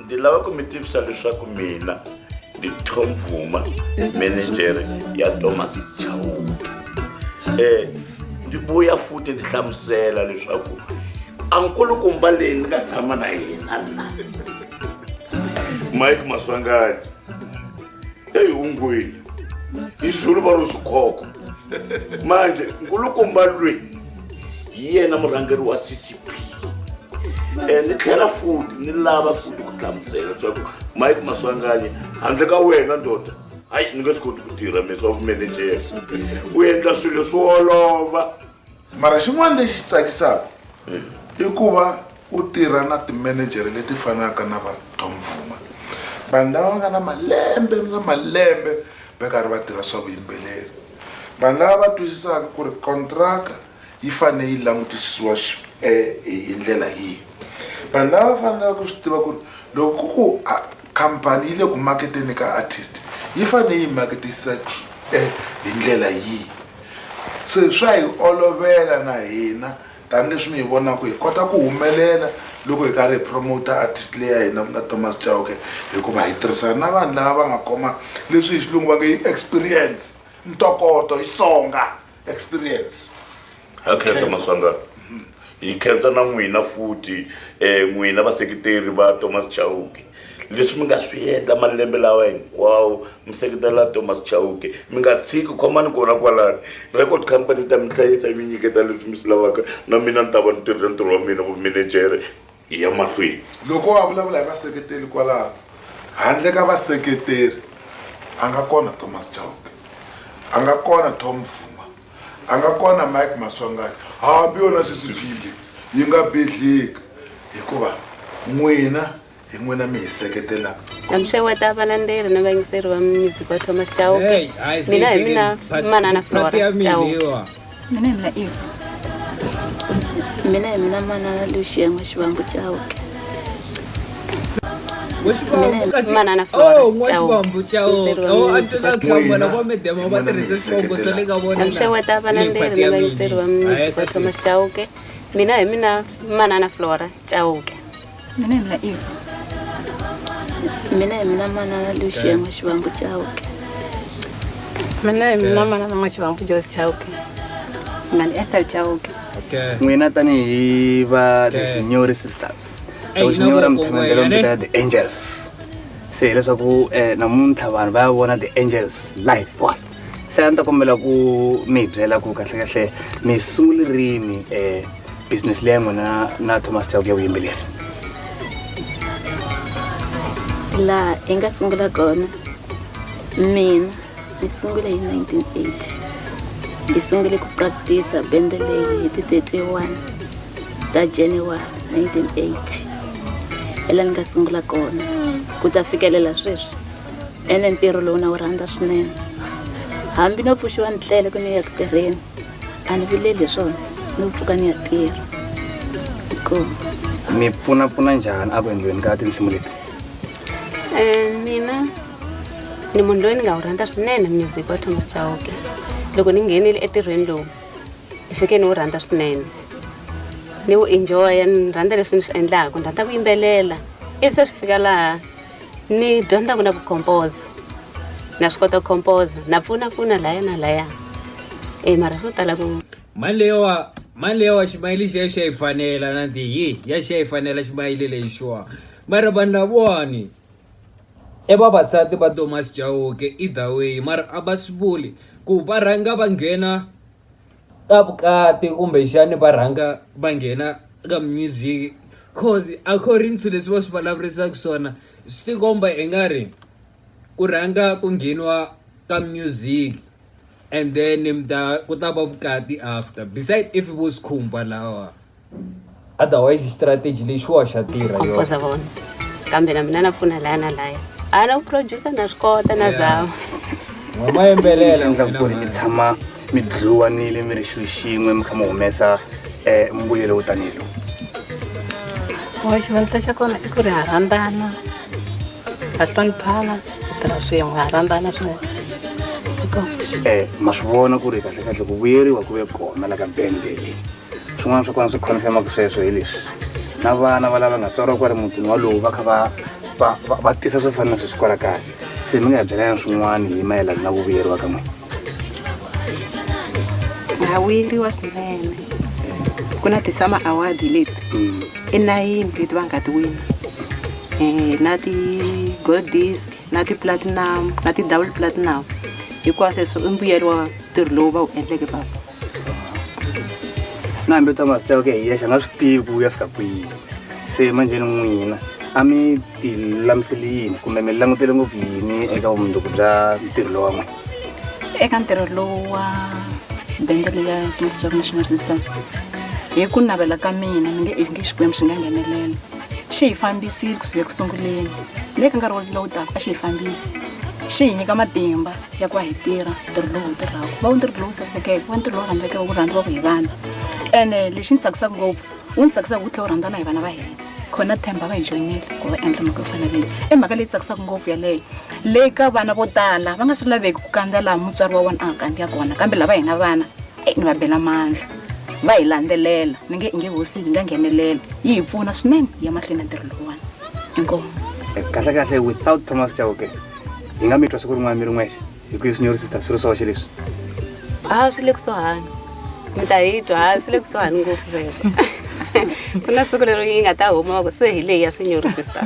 ndzi lava ku mi tivisa leswaku mina ndi tom vuma menejere ya thomas chawuke um eh, ndzi vuya futhi ndzi hlamusela leswaku ankulukumba leyi ni nga tshama na yena na mike maswangani eyi ungwini izulu va ro swikhoko manje nkulukumba lweyi hi yena murhangeri wa ccp eh, ni tlhela futi ni lava futi ku hlamusela leswaku mike maswanganyi handle ka wena ndoda hayi ni nga swi koti ku tirha mi swa vumenejera u endla swilo swi olova mara xin'wana lexi tsakisaka hmm. i ku va u tirha na timenejere leti fanaka na va tom vuma vanhu lava va nga na malembe na malembe va karhi va tirha swa vuyimbeleri vanhu lava va twisisaka ku ri kontraka yi fanele yi langutisisiwa hi ndlela yihi? Vanhu lava va fanelaka ku swi tiva ku ri loko ku ku khampani yi le ku maketeni ka artist yi fanele yi maketisa hi ndlela yihi se swa hi olovela na hina tanihileswi mi hi vonaka hi kota ku humelela loko hi karhi hi promoter artist leyi ya hina ku nga Thomas Chauke hikuva hi tirhisana na vanhu lava va nga khoma leswi hi xilungu va nge i experience ntokoto hi Xitsonga. experience ha khensa maswangana hi khensa na n'wina futhi um n'wina vaseketeri va thomas chauke leswi mi nga swi endla malembe lawa hinkwawo mi seketela thomas chauke mi nga tshiki khomani kona kwalani record company ta mi hlayisa yi mi nyiketa leswi mi swi lavaka na mina ni ta va ni tirhile ntirho wa mina vumenejere Hi ya mahlweni. Loko a vulavula hi vaseketeri kwalaho, handle ka vaseketeri a nga kona Thomas Chauke, a nga kona Tom Fuma, a nga kona Mike Maswanganyi, hambi yona sweswi File yi nga bidlhika hikuva n'wina hi n'wina mi hi seketelaka. Na mi xeweta valandzeri na vayingiseri va music wa Thomas Chauke. Mina hi mina Manana Flora Chauke. mina hi mina ivi mina hi mina manana luxien'we xivambu cawuke manana floracawuke amxeweta valanderi na vayingiseri va mnisi va thomas cawuke mina hi mina manana flora cawuke mina hi mina i mina hi mina manana luxia n'wa xivambu chauke mina hi mina manana n'wa xivambu jos chauke mani ethel chauke n'wina tanihi va leswinyori sisters leswinyora mi tshama ndlela mi vitana the angels se hileswaku um namuntlha vanhu va ya vona the angels life one se a ni ta kombela ku mi hi byela ku kahlekahle mi sungule rini um eh, business leyi ya n'wina na thomas chauku ya vuyimbeleri laha hi nga sungula kona mina ni sungule hi 1980 hi sungule ku practice bende leyi hi ti 31 ta january 1980 hi laha ni nga sungula kona ku ta fikelela sweswi ene ntirho lowu na wu rhandza swinene hambi no pfuxiwa ni tlele ku ni ya ku tirheni a ni vileli hi swona ni ku pfuka ni ya tirha hikuva mi pfunapfuna njhani a ku endliweni ka tinsimu leti um mina ni munhu loyi ni nga wu rhandza swinene music wa thomas chauke loko ni nghenile etirhweni lowu ni fike ni wu rhandza swinene ni wu enjoya ni rhandza leswi ni swi endlaka ni rhandza ku yimbelela ivi se swi fika laha ni dyondza ku na ku composa na swi kota ku composa na pfuna pfuna laya na laya e mara swo tala ku mali leyiwa mali leyiwa ximayili xi ya xi ya yi fanela na ti yi ya xi ya yi fanela ximayili lexi xiwa mara vanhu lavawani e vavasati va thomas jauke either way mara a va swi vuli ku va rhanga va nghena ka vukati kumbexani va rhanga va nghena ka music coz according to leswi va swi vulavurisaka swona swi ti komba i nga ri ku rhanga ku ngheniwa ka music and then mi ta ku ta va vukati after beside if vo swikhumba lawa. otherwise strategy leyi xiwa xa tirha yoza vona kambe na mina na pfuna laya na laya a na ku producer na swi kota na zama mama yembelela ndza ku ri mi tshama mi dluwanile mi ri xilo xin'we mi kha mi humesa eh, mbuyelo wo tanihi lowu wa xivandla xa kona i ku ri ha rhandzana ha hloniphana hi tirha swin'we ha rhandzana swin'we um ma swi vona ku ri kahlekahle ku vuyeriwa ku ve kona la ka bende leyi swin'wana swa kona swi confirmaka sweswo hi leswi na vana va lava nga tswariwa kwale mutini walowu va kha va va va tisa swo fana na sweswi kwala kaya se mi nga hi byelana swin'wana hi mayelana na ku vuyeriwa ka n'wina ha vuyeriwa swinene ku na ti-summer award leti mm. i nayini leti va nga ti wina um na ti-gold disc na ti-platinum na ti-double platinum hikwasweswo i mbuyelo wa ntirho lowu va wu endleke papa nambe ta mazita yake hiya xi nga swi tivi ku ya fika kwihi se manjheni n'wina a mi ti lamiseli yini kumbe mi langutele ngopfu yini eka vumundzuku bya ntirho lowa n'wina eka ntirho lowu wa bende leyi ya Christ Job National Resistance hi ku navela ka mina mi nge nge xikwembu xi nga nghenelela xi hi fambisile kusuka eku sunguleni le ka nkarhi lowu taka a xi hi fambisi xi hi nyika matimba ya ku va hi tirha ntirho lowu hi tirhaka va wu ntirho lowu sasekeke va ntirho lowu rhandzeke wu rhandziwaka hi vanhu ene lexi ni tsakisaka ngopfu wu ni tsakisaka wu tlhela wu rhandzana hi vana va hina khona themba va hi joyinile ku va endla mhaka yo fana leyi i mhaka leyi tsakisaka ngopfu yaleyo leyi ka vana vo tala va nga swi laveki ku kandza laha mutswari wa wona a nga kandza kona kambe lava hina vana e ni va bela mandla va hi landzelela ni nge nge hosi hi nga nghenelela yi hi pfuna swinene ya mahlweni ya ntirho lowuwani inkomu kahle kahle without thomas chauke hi nga mi twa siku rin'wana mi ri n'wexe hi ku leswi nyori sister swi ri swoxe leswi a swi le kusuhani mi ta hi twa a swi le kusuhani ngopfu sweswo ku na siku leri yi nga ta huma va ku se hi leyi ya swinyori sister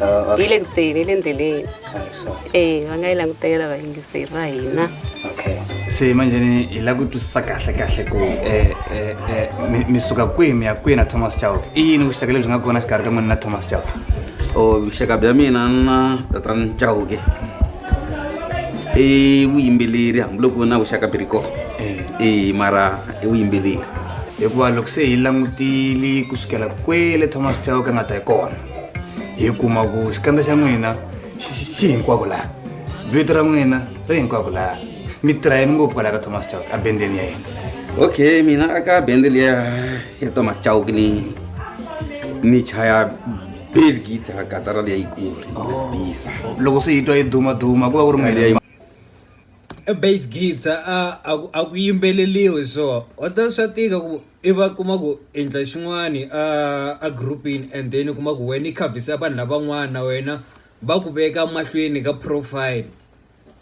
Ah, okay. yi le ku teni yi le ndleleni Ah, so. e va nga yi langutela vayingiseri va hina okay se manjeni hi la ku twisisa kahle kahle ku eh, eh, eh, mi- mi suka kwihi mi ya kwihi na thomas chao i yini vuxaka lebyi nga kona xikarhi ka n'wina na thomas chao o vuxaka bya mina na tatana chauke i vuyimbeleri hambiloko na vuxaka byi ri kona e mara i vuyimbeleri hikuva loko se hi langutile ku sukela kwele thomas chauke a nga ta hi kona hi kuma ku xikandza xa n'wina xi xi- xi hinkwako laha vito ra n'wina ri hinkwako laha mi tirha yini ngopfu kwalaha ka thomas chauke a bendeni ya yena okay mina aka bende liya ya to mas chao ke ni ni chaya bass guitar ka tara le ikuri oh. bisa loko se itwa yi duma duma ku va ku ri mali ya e bass guitar a a ku yimbeleliwe so o ta swa tika ku i va kuma ku endla xin'wani a a groupini and then kuma ku wena i khavisa vanhu lavan'wana na wena va ku veka mahlweni ka profile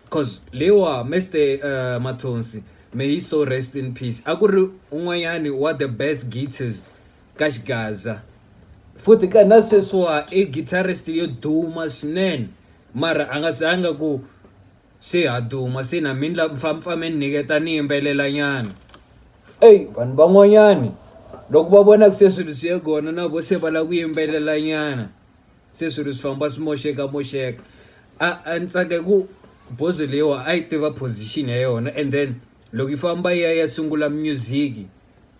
Cause leyiwa Mr uh, Mathonsi may he so rest in peace a ku ri un'wanyani wa the best guitars ka xigaza futhi ka na sweswiwa i guitarist yo duma swinene mara a nga zanga ku se ha duma se na mini la mpfampfame ni nyiketa ni yimbelela nyana eyi vanhu van'wanyani loko va vona ku se swilo swi ye kona na vo se va lava ku yimbelela nyana se swilo swi famba swi moxeka moxeka a a ni tsake ku bozo leyiwa a yi tiva position ya yona and then loko yi famba yi ya ya sungula music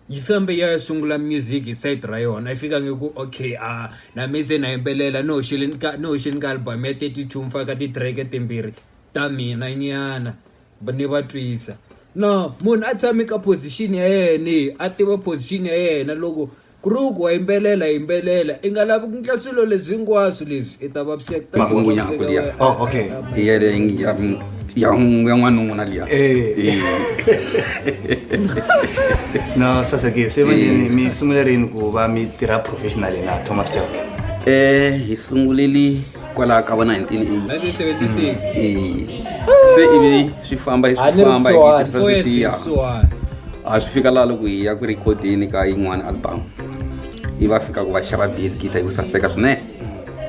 yi fambe yi ya ya sungula music hi side ra yona yi fika nge ku okay a na me se na yimbelela ni hoxile ni ka ni hoxe ni ka album ya thirty two ni faka ti-track timbirhi ta mina nyana ni va twisa no munhu a tshame ka position ya yena a tiva position ya yena loko. Krug wa yimbelela, yimbelela. I nga lavi ku ndla swilo leswi hinkwaswo leswi. I ta vaviseka. Ta Makungu tlhela nyako liya. vaviseka Oh, okay. wena. Iya le ya ya ya n'wanuna liya. Eh. No, sasa ke se manje Eh. mi sungule rini ku va mi tirha professionally na Thomas Chauke? Eh, hi sunguleli kwalaho ka va 1980 se ivi swi famba swi famba swiya a swi fika laha loko hi ya ku rikhodeni ka yin'wana album yi va fika ku va xava bid gita yi ku saseka swinene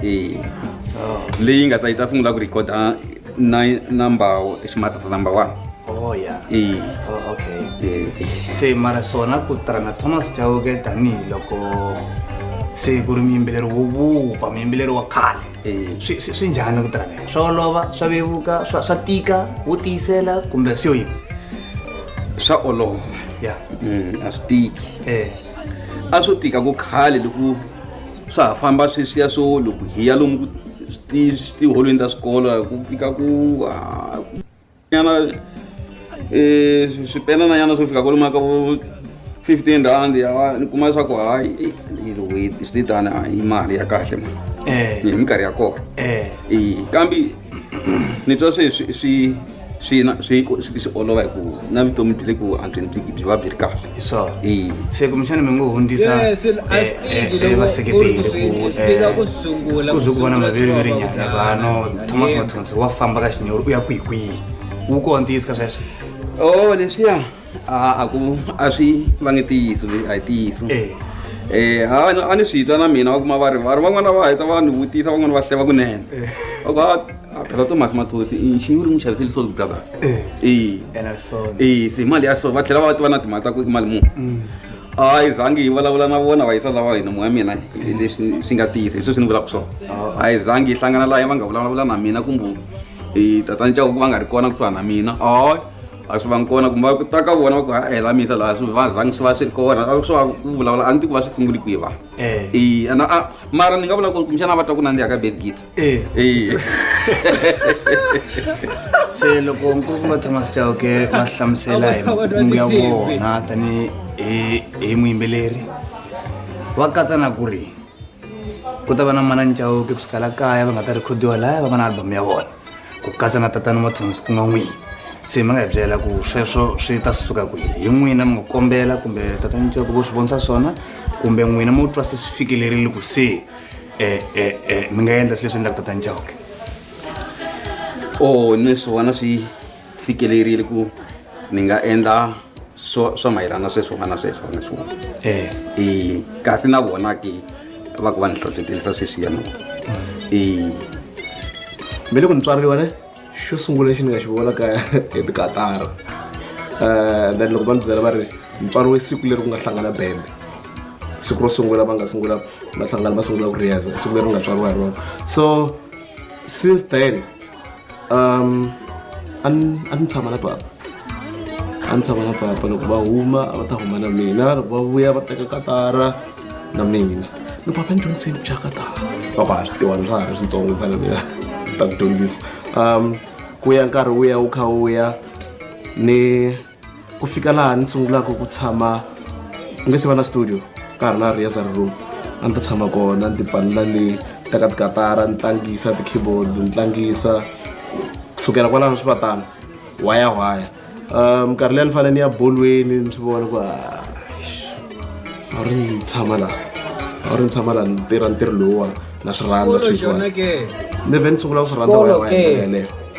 e leyi nga ta yi ta sungula ku rikhoda Nine number ximatata number one oh yeah e oh, okay e se mara swona ku tirhana thomas chauke tanihiloko se ku ri muyimbeleri wo vupfa muyimbeleri wa khale swi njhani ku tirhana swa olova swa vevuka swa tika wo tiyisela kumbe swi yo yini swa olova ya mm, a swi tiki e a swo tika ku khale loko swa ha famba sweswiya swo loko hi ya lomu tiholweni ta swikolo ku fika ku yana um swipenana yana swo fika kwalomu ka vo fifteen rand ya ni kuma leswaku hayi swi tani hi mali ya kahle ma eh. hi minkarhi ya kona eh. kambe ni twa swi swi swi swi na swi ku- swi swi olova hi ku na vutomi byi le ku antsweni byi byi va byi ri kahle so Eya. se kumbexana mi ngo hundzisa Yes, eh, I eh, think eh, loko vaseketeri u ri ku swi- ku swi tika ku sungula, ku ku zwe ku vona sungula swi maviriviri vava nyana ku vano dlaya. thomas Yebo. mathonsi wa famba ka xinyori u ya kwihikwihi wu kontiyiska sweswo o leswiya a a ku a swi va nge tiyiso leyi a hi tiyiso eh. Eh, ha a ni swi twa na mina va kuma va ri va ri van'wana va heta va ni vutisa van'wana va hleva kunene eh. va ku a ah, ah, phela tomasi mathosi i xinyi ri n'wi xaviseli salt brothers e e se mali ya so va tlhela va tiva na timali ta ku i mali muni mm. a yi zangi yi vulavula na vona va yisa lava hina moya mina leswi swi nga tiyisa hi sweswi ni vulaka swona oh. a yi zangi yi hlangana laha va nga vulavula na mina kumbe tatani cavo ku va nga ri kona kusuhana na mina a a swi vangi kona kumbe ku ta ka vona va ku ha hela misa laha swi va zangi swi va swi ri kona a swi va ku vulavula a ni tiku va swi sunguli kwihi va Eh. eya na a mara ni nga vula ku kumbexana va twa ku nandziha ka belgit Eh. eya se loko nkulukumba thomas chauke va hlamusela hi makungu ya vona tani hi hi muyimbeleri va katsa na ku ri ku ta va na manani chauke kusukela kaya va nga ta rikhodiwa laya va va na album ya vona ku katsa na tatana mathonsi ku nga n'wini se mi nga hi byela ku sweswo swi ta suka kwihi hi n'wina mi nga kombela kumbe tatana ncoko vo swi vonisa swona kumbe n'wina mo twa se swi fikelerile ku se um um mi nga endla swi leswi endlaka tatana ncoke o ni swi vona swi fikelerile ku ni nga endla swo swa mayelana sweswi u nga na sweswi na swona eh. e kasi na vona ke va ku va ni hlohletelisa sweswiya na vona e me le ku ni tswariwa ne xo sungula lexi ni nga xi vona ka hi tikatara um then loko va ni byela va ri ni tswariwe siku leri ku nga hlangana bende siku ro sungula va nga sungula va hlangana va sungula ku riyaza siku leri u nga tswariwa hi rona so since then um a ni tshama na papa a ni tshama na papa loko va huma a va ta huma na mina loko va vuya va teka katara na mina no papa ni dyondziseni ku dya katara papa a swi tiwani swa ha ri swintsongo ku fana mina ta ku dyondzisa um ku ya nkarhi wu ya wu kha wu ya ni ku fika laha ni sungulaka ku tshama ku nga se va na studio ka ha ri na rehearsal room a ni ta tshama kona ni tipalela le ta ka tikatara ni tlangisa ti-keyboard ni tlangisa kusukela kwalano swi va tano waya waya um nkarhi leyi ni fanele ni ya bolweni ni swi vona ku a wu ri ni tshama laha a wu ri ni tshama laha ni tirha ntirho lowuwani na swi rhandza sweswiwani ni vhe ni sungula ku swi rhandza waya waya yeleyo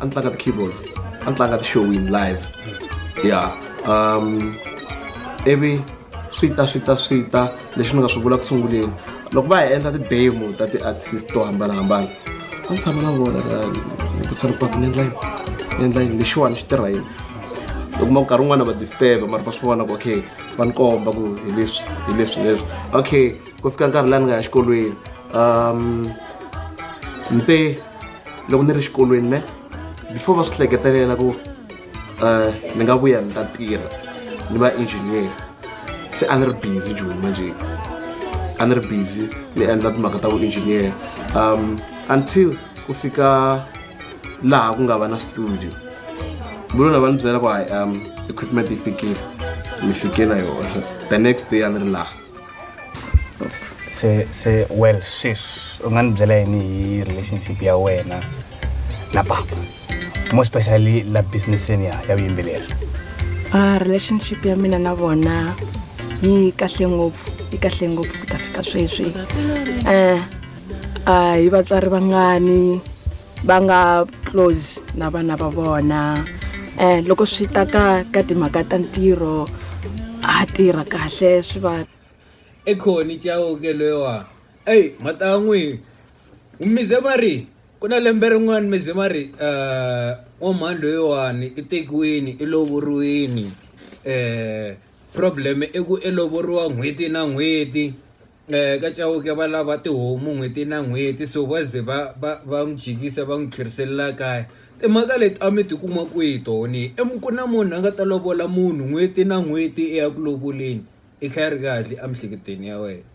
a ni tlanga ti-keyboards a ni tlanga ti-showing live ya um ivi swi ta swi ta swi ta leswi ni nga swi vula ku sunguleni loko va hi endla ti-demo ta ti-artist to hambanahambana a ni tshama na vona vutisa loko ni endla yini ni endla yini lexiwani xi tirha yini u kuma ku nkarhi wun'wana va disturba mara va swi vona ku okay va ni komba ku hi leswi hi leswi leswi okay ku fika nkarhi laha ni nga ya xikolweni um ni te loko ni ri xikolweni ne before va swi hleketelela ku um ni nga vuya ni ta tirha ni va engineer se a ni ri busy joni manje a ni ri busy ni endla timhaka ta vuengineer um until ku fika laha ku nga va na studio mulona va ni byela ku hayi um equipment yi fikile mi fike na yona the next day a ni ri laha se se well sis u nga ni byela yini hi relationship ya wena na papa more especially la businesseni ya ya vuyimbeleri a relationship ya mina na vona yi kahle ngopfu yi kahle ngopfu ku ta fika sweswi um a hi vatswari vangani va nga close na vana va vona um loko swi ta ka ka timhaka ta ntirho a tirha kahle swi va i khoni chauke loyiwa eyi matan'wi mize ma ri ku na lembe rin'wana mize ma ri um eh, wa mhani loyiwani i tekiwini i lovoriwini um eh, problem i ku i lovoriwa n'hweti na n'hweti ka Chauke va lava tihomu n'hweti na n'hweti so va ze va va va n'wi jikisa va n'wi tlherisela kaya timhaka leti a mi ti kuma kwihi toho ni i mi ku na munhu a nga ta lovola munhu n'hweti na n'hweti i ya ku lovoleni i kha i ri kahle emiehleketweni ya wena.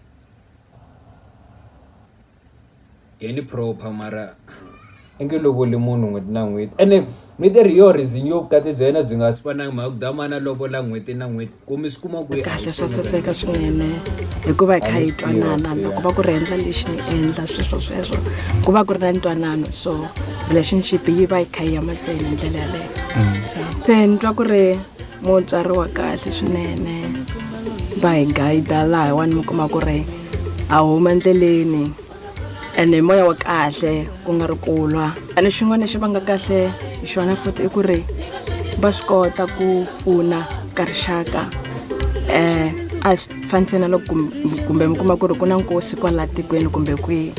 Danny proper mara i nge lovoli munhu n'hweti na n'hweti ene mi te ri yoho reason yo vukati bya yena byi nga si fanangi mhaka ku damani a lovola n'hweti na n'hweti ku mi swi kuma kwihi kahle swa saseka swinene hikuva hi kha hi twanana loko va ku ri endla lexi ni endla sweswo sweswo ku va ku ri na ntwanano so relationship yi va yi kha yi ya mahlweni hi ndlela yaleyo mm. se ni twa ku ri mutswari wa kahle swinene va hi guide laha wani mi kuma ku ri a huma endleleni ene moya wa kahle ku nga ri kulwa ene xin'wana lexi va nga kahle hi xona futhi i ku ri va swi kota ku pfuna ka rixaka um a swi fani ntsena loko kumbe mi kuma ku ri ku na nkosi kwala tikweni kumbe kwihi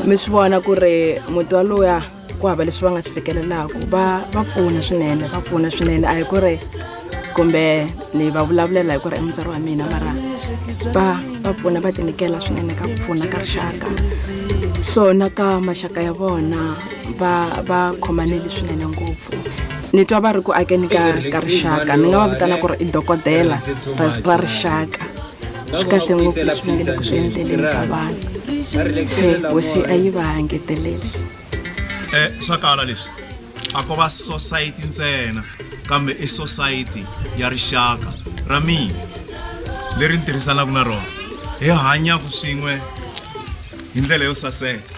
mi swi vona ku ri muti wa loya ku hava leswi va nga swi fikelelaka va va pfuna swinene va pfuna swinene a hi ku ri kumbe ni va vulavulela hi ku ri i mutswari wa mina mara va va pfuna va tinyikela swinene ka ku pfuna ka rixaka so na ka maxaka ya vona va va khomaneli swinene ngopfu ni twa va ri ku akeni ka ka rixaka ni nga va vitana ku ri i dokodela ra rixaka swi kahle ngopfu leswi va nge le ku swi endleleni ka vanhu se hosi a yi va engeteleli um swa kala leswi a ko va sosayiti ntsena kambe i sosayiti ya rixaka ra mina leri ni tirhisanaka na rona hi hanyaka swin'we hi ndlela yo saseka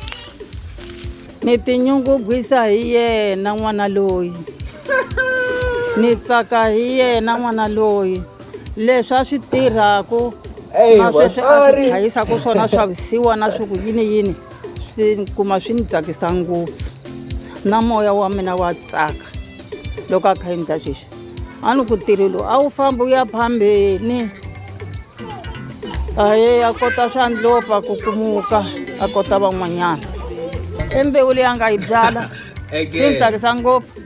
Ni tinyungubyisa hi yena n'wana loyi ni tsaka hi yena n'wana loyi leswi a swi tirhaku na sweswi a swi chayisa ku swona swa visiwa na swi ku yini yini swi kuma swi ni tsakisa ngopfu na moya wa mina wa tsaka loko a kha endla sweswi a ni ku tirhi lowu a wu fambi u ya phambeni aye a kota swa ndlopa ku kumuka a kota van'wanyana i mbewu leyi a nga yi byala swi ni tsakisa ngopfu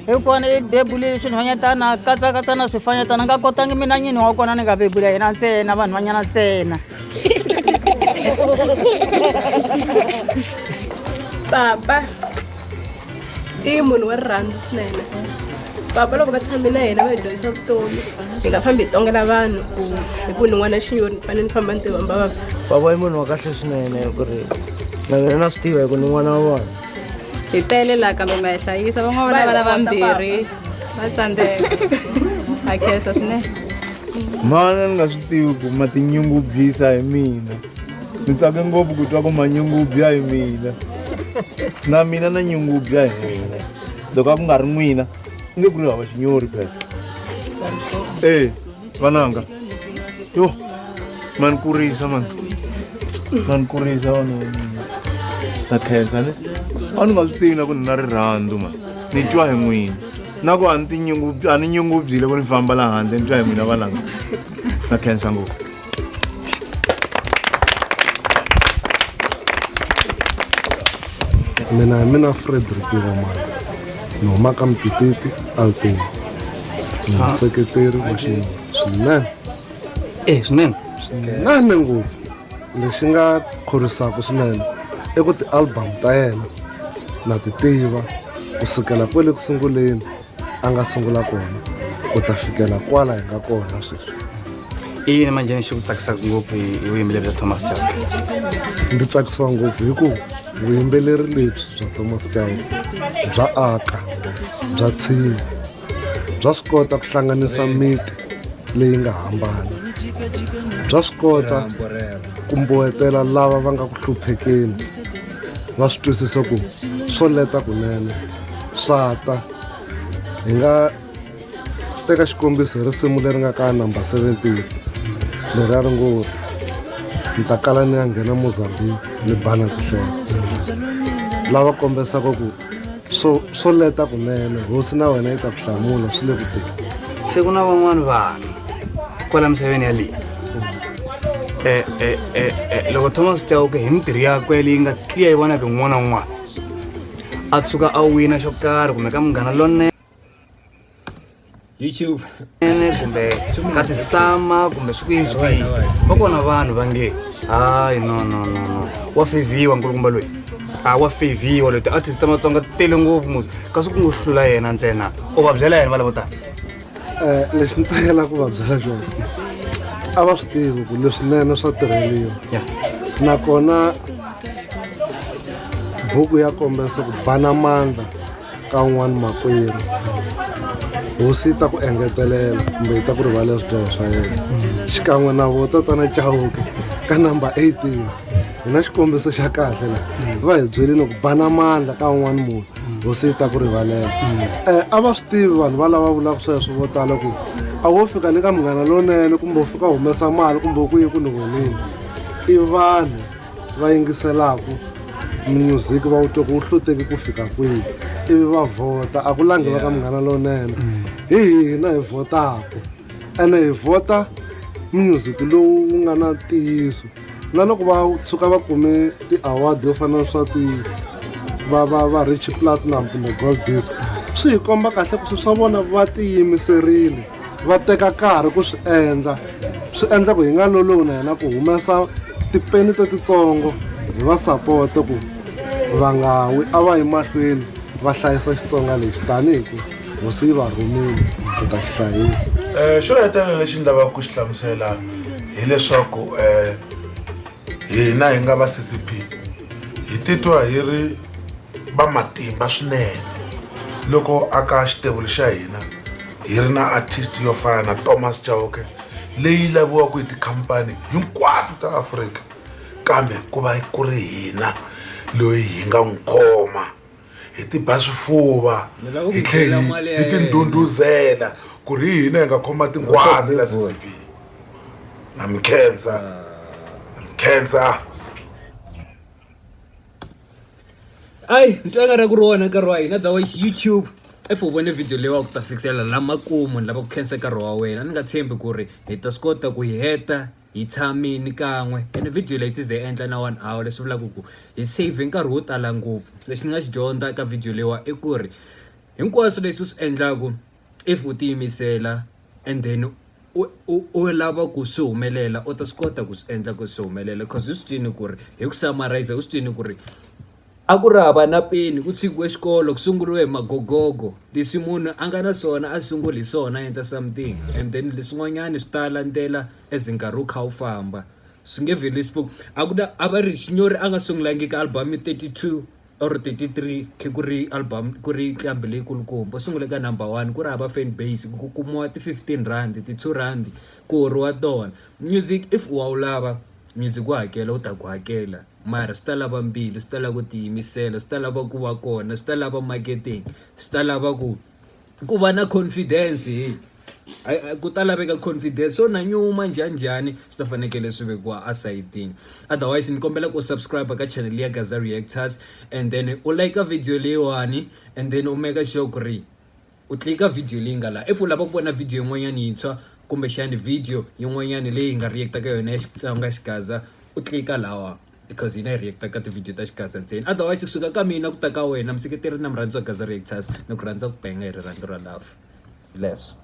hi kona i bebule swinhwanyatana katsakatsana swifanyatana nga kotangi mina nyini wa kona ni nga bebula yena ntsena vanhu vanyana ntsena papa i munhu wa rirhandzu swinene papa loko va tshame na yena va hi dyondzisa vutomi hi nga fambi hi tongela vanhu ku hi ku ni n'wana xinyoni ni fanele ni famba ni tiva mbavava papa i munhu wa kahle swinene hi ku ri na mina na swi tiva hi ku ni n'wana wa vona hi tele laha kambe ma hi hlayisa van'wana va na vana vambirhi va tsandzeka ha khensa swinene mana ni nga swi tivi ku ma tinyungubyisa hi mina ni tsake ngopfu ku twa ku manyungubya hi mina na mina na nyungubya hi mina loko a ku nga ri n'wina i nge ku ri hava xinyori phesa e vananga yo mani kurisa mani mani kurisa vana va mina na khensa ni a ni nga swi tivi na ku ni na rirhandzu ma ni twa hi n'wina na ku a ni tinyungubyi a ni nyungubyile ku ni famba laha handle ni twa hi n'wina vananga na khensa ngopfu mina hi mina frederick ngomana ni huma ka mpititi altin ni ah. museketeri wa xinuna swinene e swinene swinene ngopfu lexi nga khorwisaka swinene i ku ti-album ta yena na ti tiva ku sukela kwale ku sunguleni a nga sungula kona ku ta fikela kwala hi nga kona sweswi i yini manje ni xi ku tsakisaka ngopfu hi vuyimbeleri bya thomas chauke ndzi tsakisiwa ngopfu hi ku vuyimbeleri lebyi bya thomas chauke bya aka bya tshinya bya swi kota ku hlanganisa miti leyi nga hambana bya swi kota ku mbohetela lava va nga ku hluphekeni va swi twisisa ku swo leta kunene swa ta hi nga teka xikombiso hi risimu leri nga ka number 17 leri a ri ngo ni ta kala ni ya nghena mozambique ni bana tihlelo lava kombisaka ku swo swo leta kunene hosi na wena yi ta ku hlamula swi le kuteni se ku na van'wani vanhu kwala misaveni yaleyi eh, eh, eh, loko thomas chauke hi mintirho yakwe leyi nga tliya yi vonaka n'wana wun'wana a tshuka a wina xo karhi kumbe ka munghana lonene youtube ene kumbe ka tisama kumbe swi kuyini swi kuyini va kona vanhu va nge hayi no no no no wa feviwa nkulukumba loyi a wa feviwa loyi ti-artist ta matsonga ti tele ngopfu musi kasi ku ngo hlula yena ntsena u va byela yena va lavo tala Eh, lexi ni tsakela ku va byela xona a va swi tivi ku leswinene swa tirheliwa ya nakona buku ya kombisa ku bana mandla ka un'wana makwerhu hosi yi ta ku engetelela kumbe yi ta ku rivala swidyoho swa yena xikan'we na vo tatana chauke ka number 18 hi na xikombiso xa kahle la va hi byelini ku bana mandla ka un'wana munhu hosi yi ta ku rivalela um a va swi tivi vanhu va lava vulaka sweswo vo tala ku a wo fika le ka munghana lowunene kumbe u fika humesa mali kumbe ku yi ku ni vonile i vanhu va yingiselaka music va wu twa ku wu hloteki ku fika kwihi ivi va vhota a ku langi va ka munghana lowunene mm. hi hina hi vhotaka ene hi vhota music lowu wu nga na ntiyiso na loko va tshuka va kume ti-award yo fana na swa ti va va va rich platinum kumbe gold disc swi hi komba kahle ku swi swa vona va tiyimiserile va teka nkarhi ku swi endla swi endla ku hi nga lolowi na hina ku humesa tipeni ta titsongo hi va sapote ku va nga wi a va yi mahlweni va hlayisa xitsonga lexi tanihi ku hosi yi va rhumile ku ta xi hlayisa um xo hetelela lexi ni lavaka ku xi hlamusela hileswaku um hina hi nga va ccp hi titwa hi ri va matimba swinene loko aka xitevulu xa hina hi ri na artist yo fana na thomas chauke leyi laviwaka hi tikhampani hinkwato ta afrika kambe ku va ku ri hina loyi hi nga n'wi khoma hi tiba swifuva hi tlhela hi tindhundhuzela ku ri hina hi nga khoma tinghwazi la ccp na mi khensa na mi khensa ayi nto engari ku rona nkarhi wa hina otherwise youtube if u vone video leyi wa ku ta fikisela lamakumu ni lava ku khensa nkarhi wa wena ni nga tshembi ku ri hi ta swi kota ku yi heta hi tshamini kan'we ene video leyi size yi endla na one hour leswi vulaka ku hi save nkarhi wo tala ngopfu lexi ni nga xi dyondza ka video leyiwa i ku ri hinkwaswo leswi u swi endlaku if u tiyimisela and then u u u lava ku swi humelela u ta swi kota ku swi endla ku swi humelela coz u swi twini ku ri hi ku samarisa u swi twini ku ri a ku ri hava na peni ku tshikiwe xikolo ku sunguriwe hi magogogo leswi munhu a nga na swona a sunguli hi swona a endla something and then leswin'wanyani swi ta landzela as nkarhi wu kha wu famba swi nge vheli swi a ku na a va ri Xinyori a nga sungulangiki album thirty two or thirty three khe ku ri album ku ri nqambi leyi kulukumba u sungule ka number one ku ri hava fan base ku kumiwa ti fifteen rhandi ti two rhandi ku horiwa tona music if u wa wu lava music wa hakela wu ta ku hakela mara swi ta lava mbilu swi ta lava ku tiyimisela swi ta lava ku va kona swi ta lava marketing swi ta lava ku. ku va na confidence hey ku ta laveka confidence so na nyuma njhani njhani swi ta fanekele swi vekiwa asayitini otherwise ni kombela ku subscribe ka channel ya gaza reactors and then u like video leyiwani and then u make sure ku ri u tlika video leyi nga laha if u lava ku vona video yin'wanyana yintshwa kumbexani video yin'wanyana leyi nga reacta ka yona ya xitsonga xigaza u tlika lawa because hina hi react ka tivhidiyo ta xigaza ntsena otherwise kusuka ka mina ku ta ka wena museketeri na murhandzi wa gaza reactors ni ku rhandza ku penga hi rirhandzu ra love leswo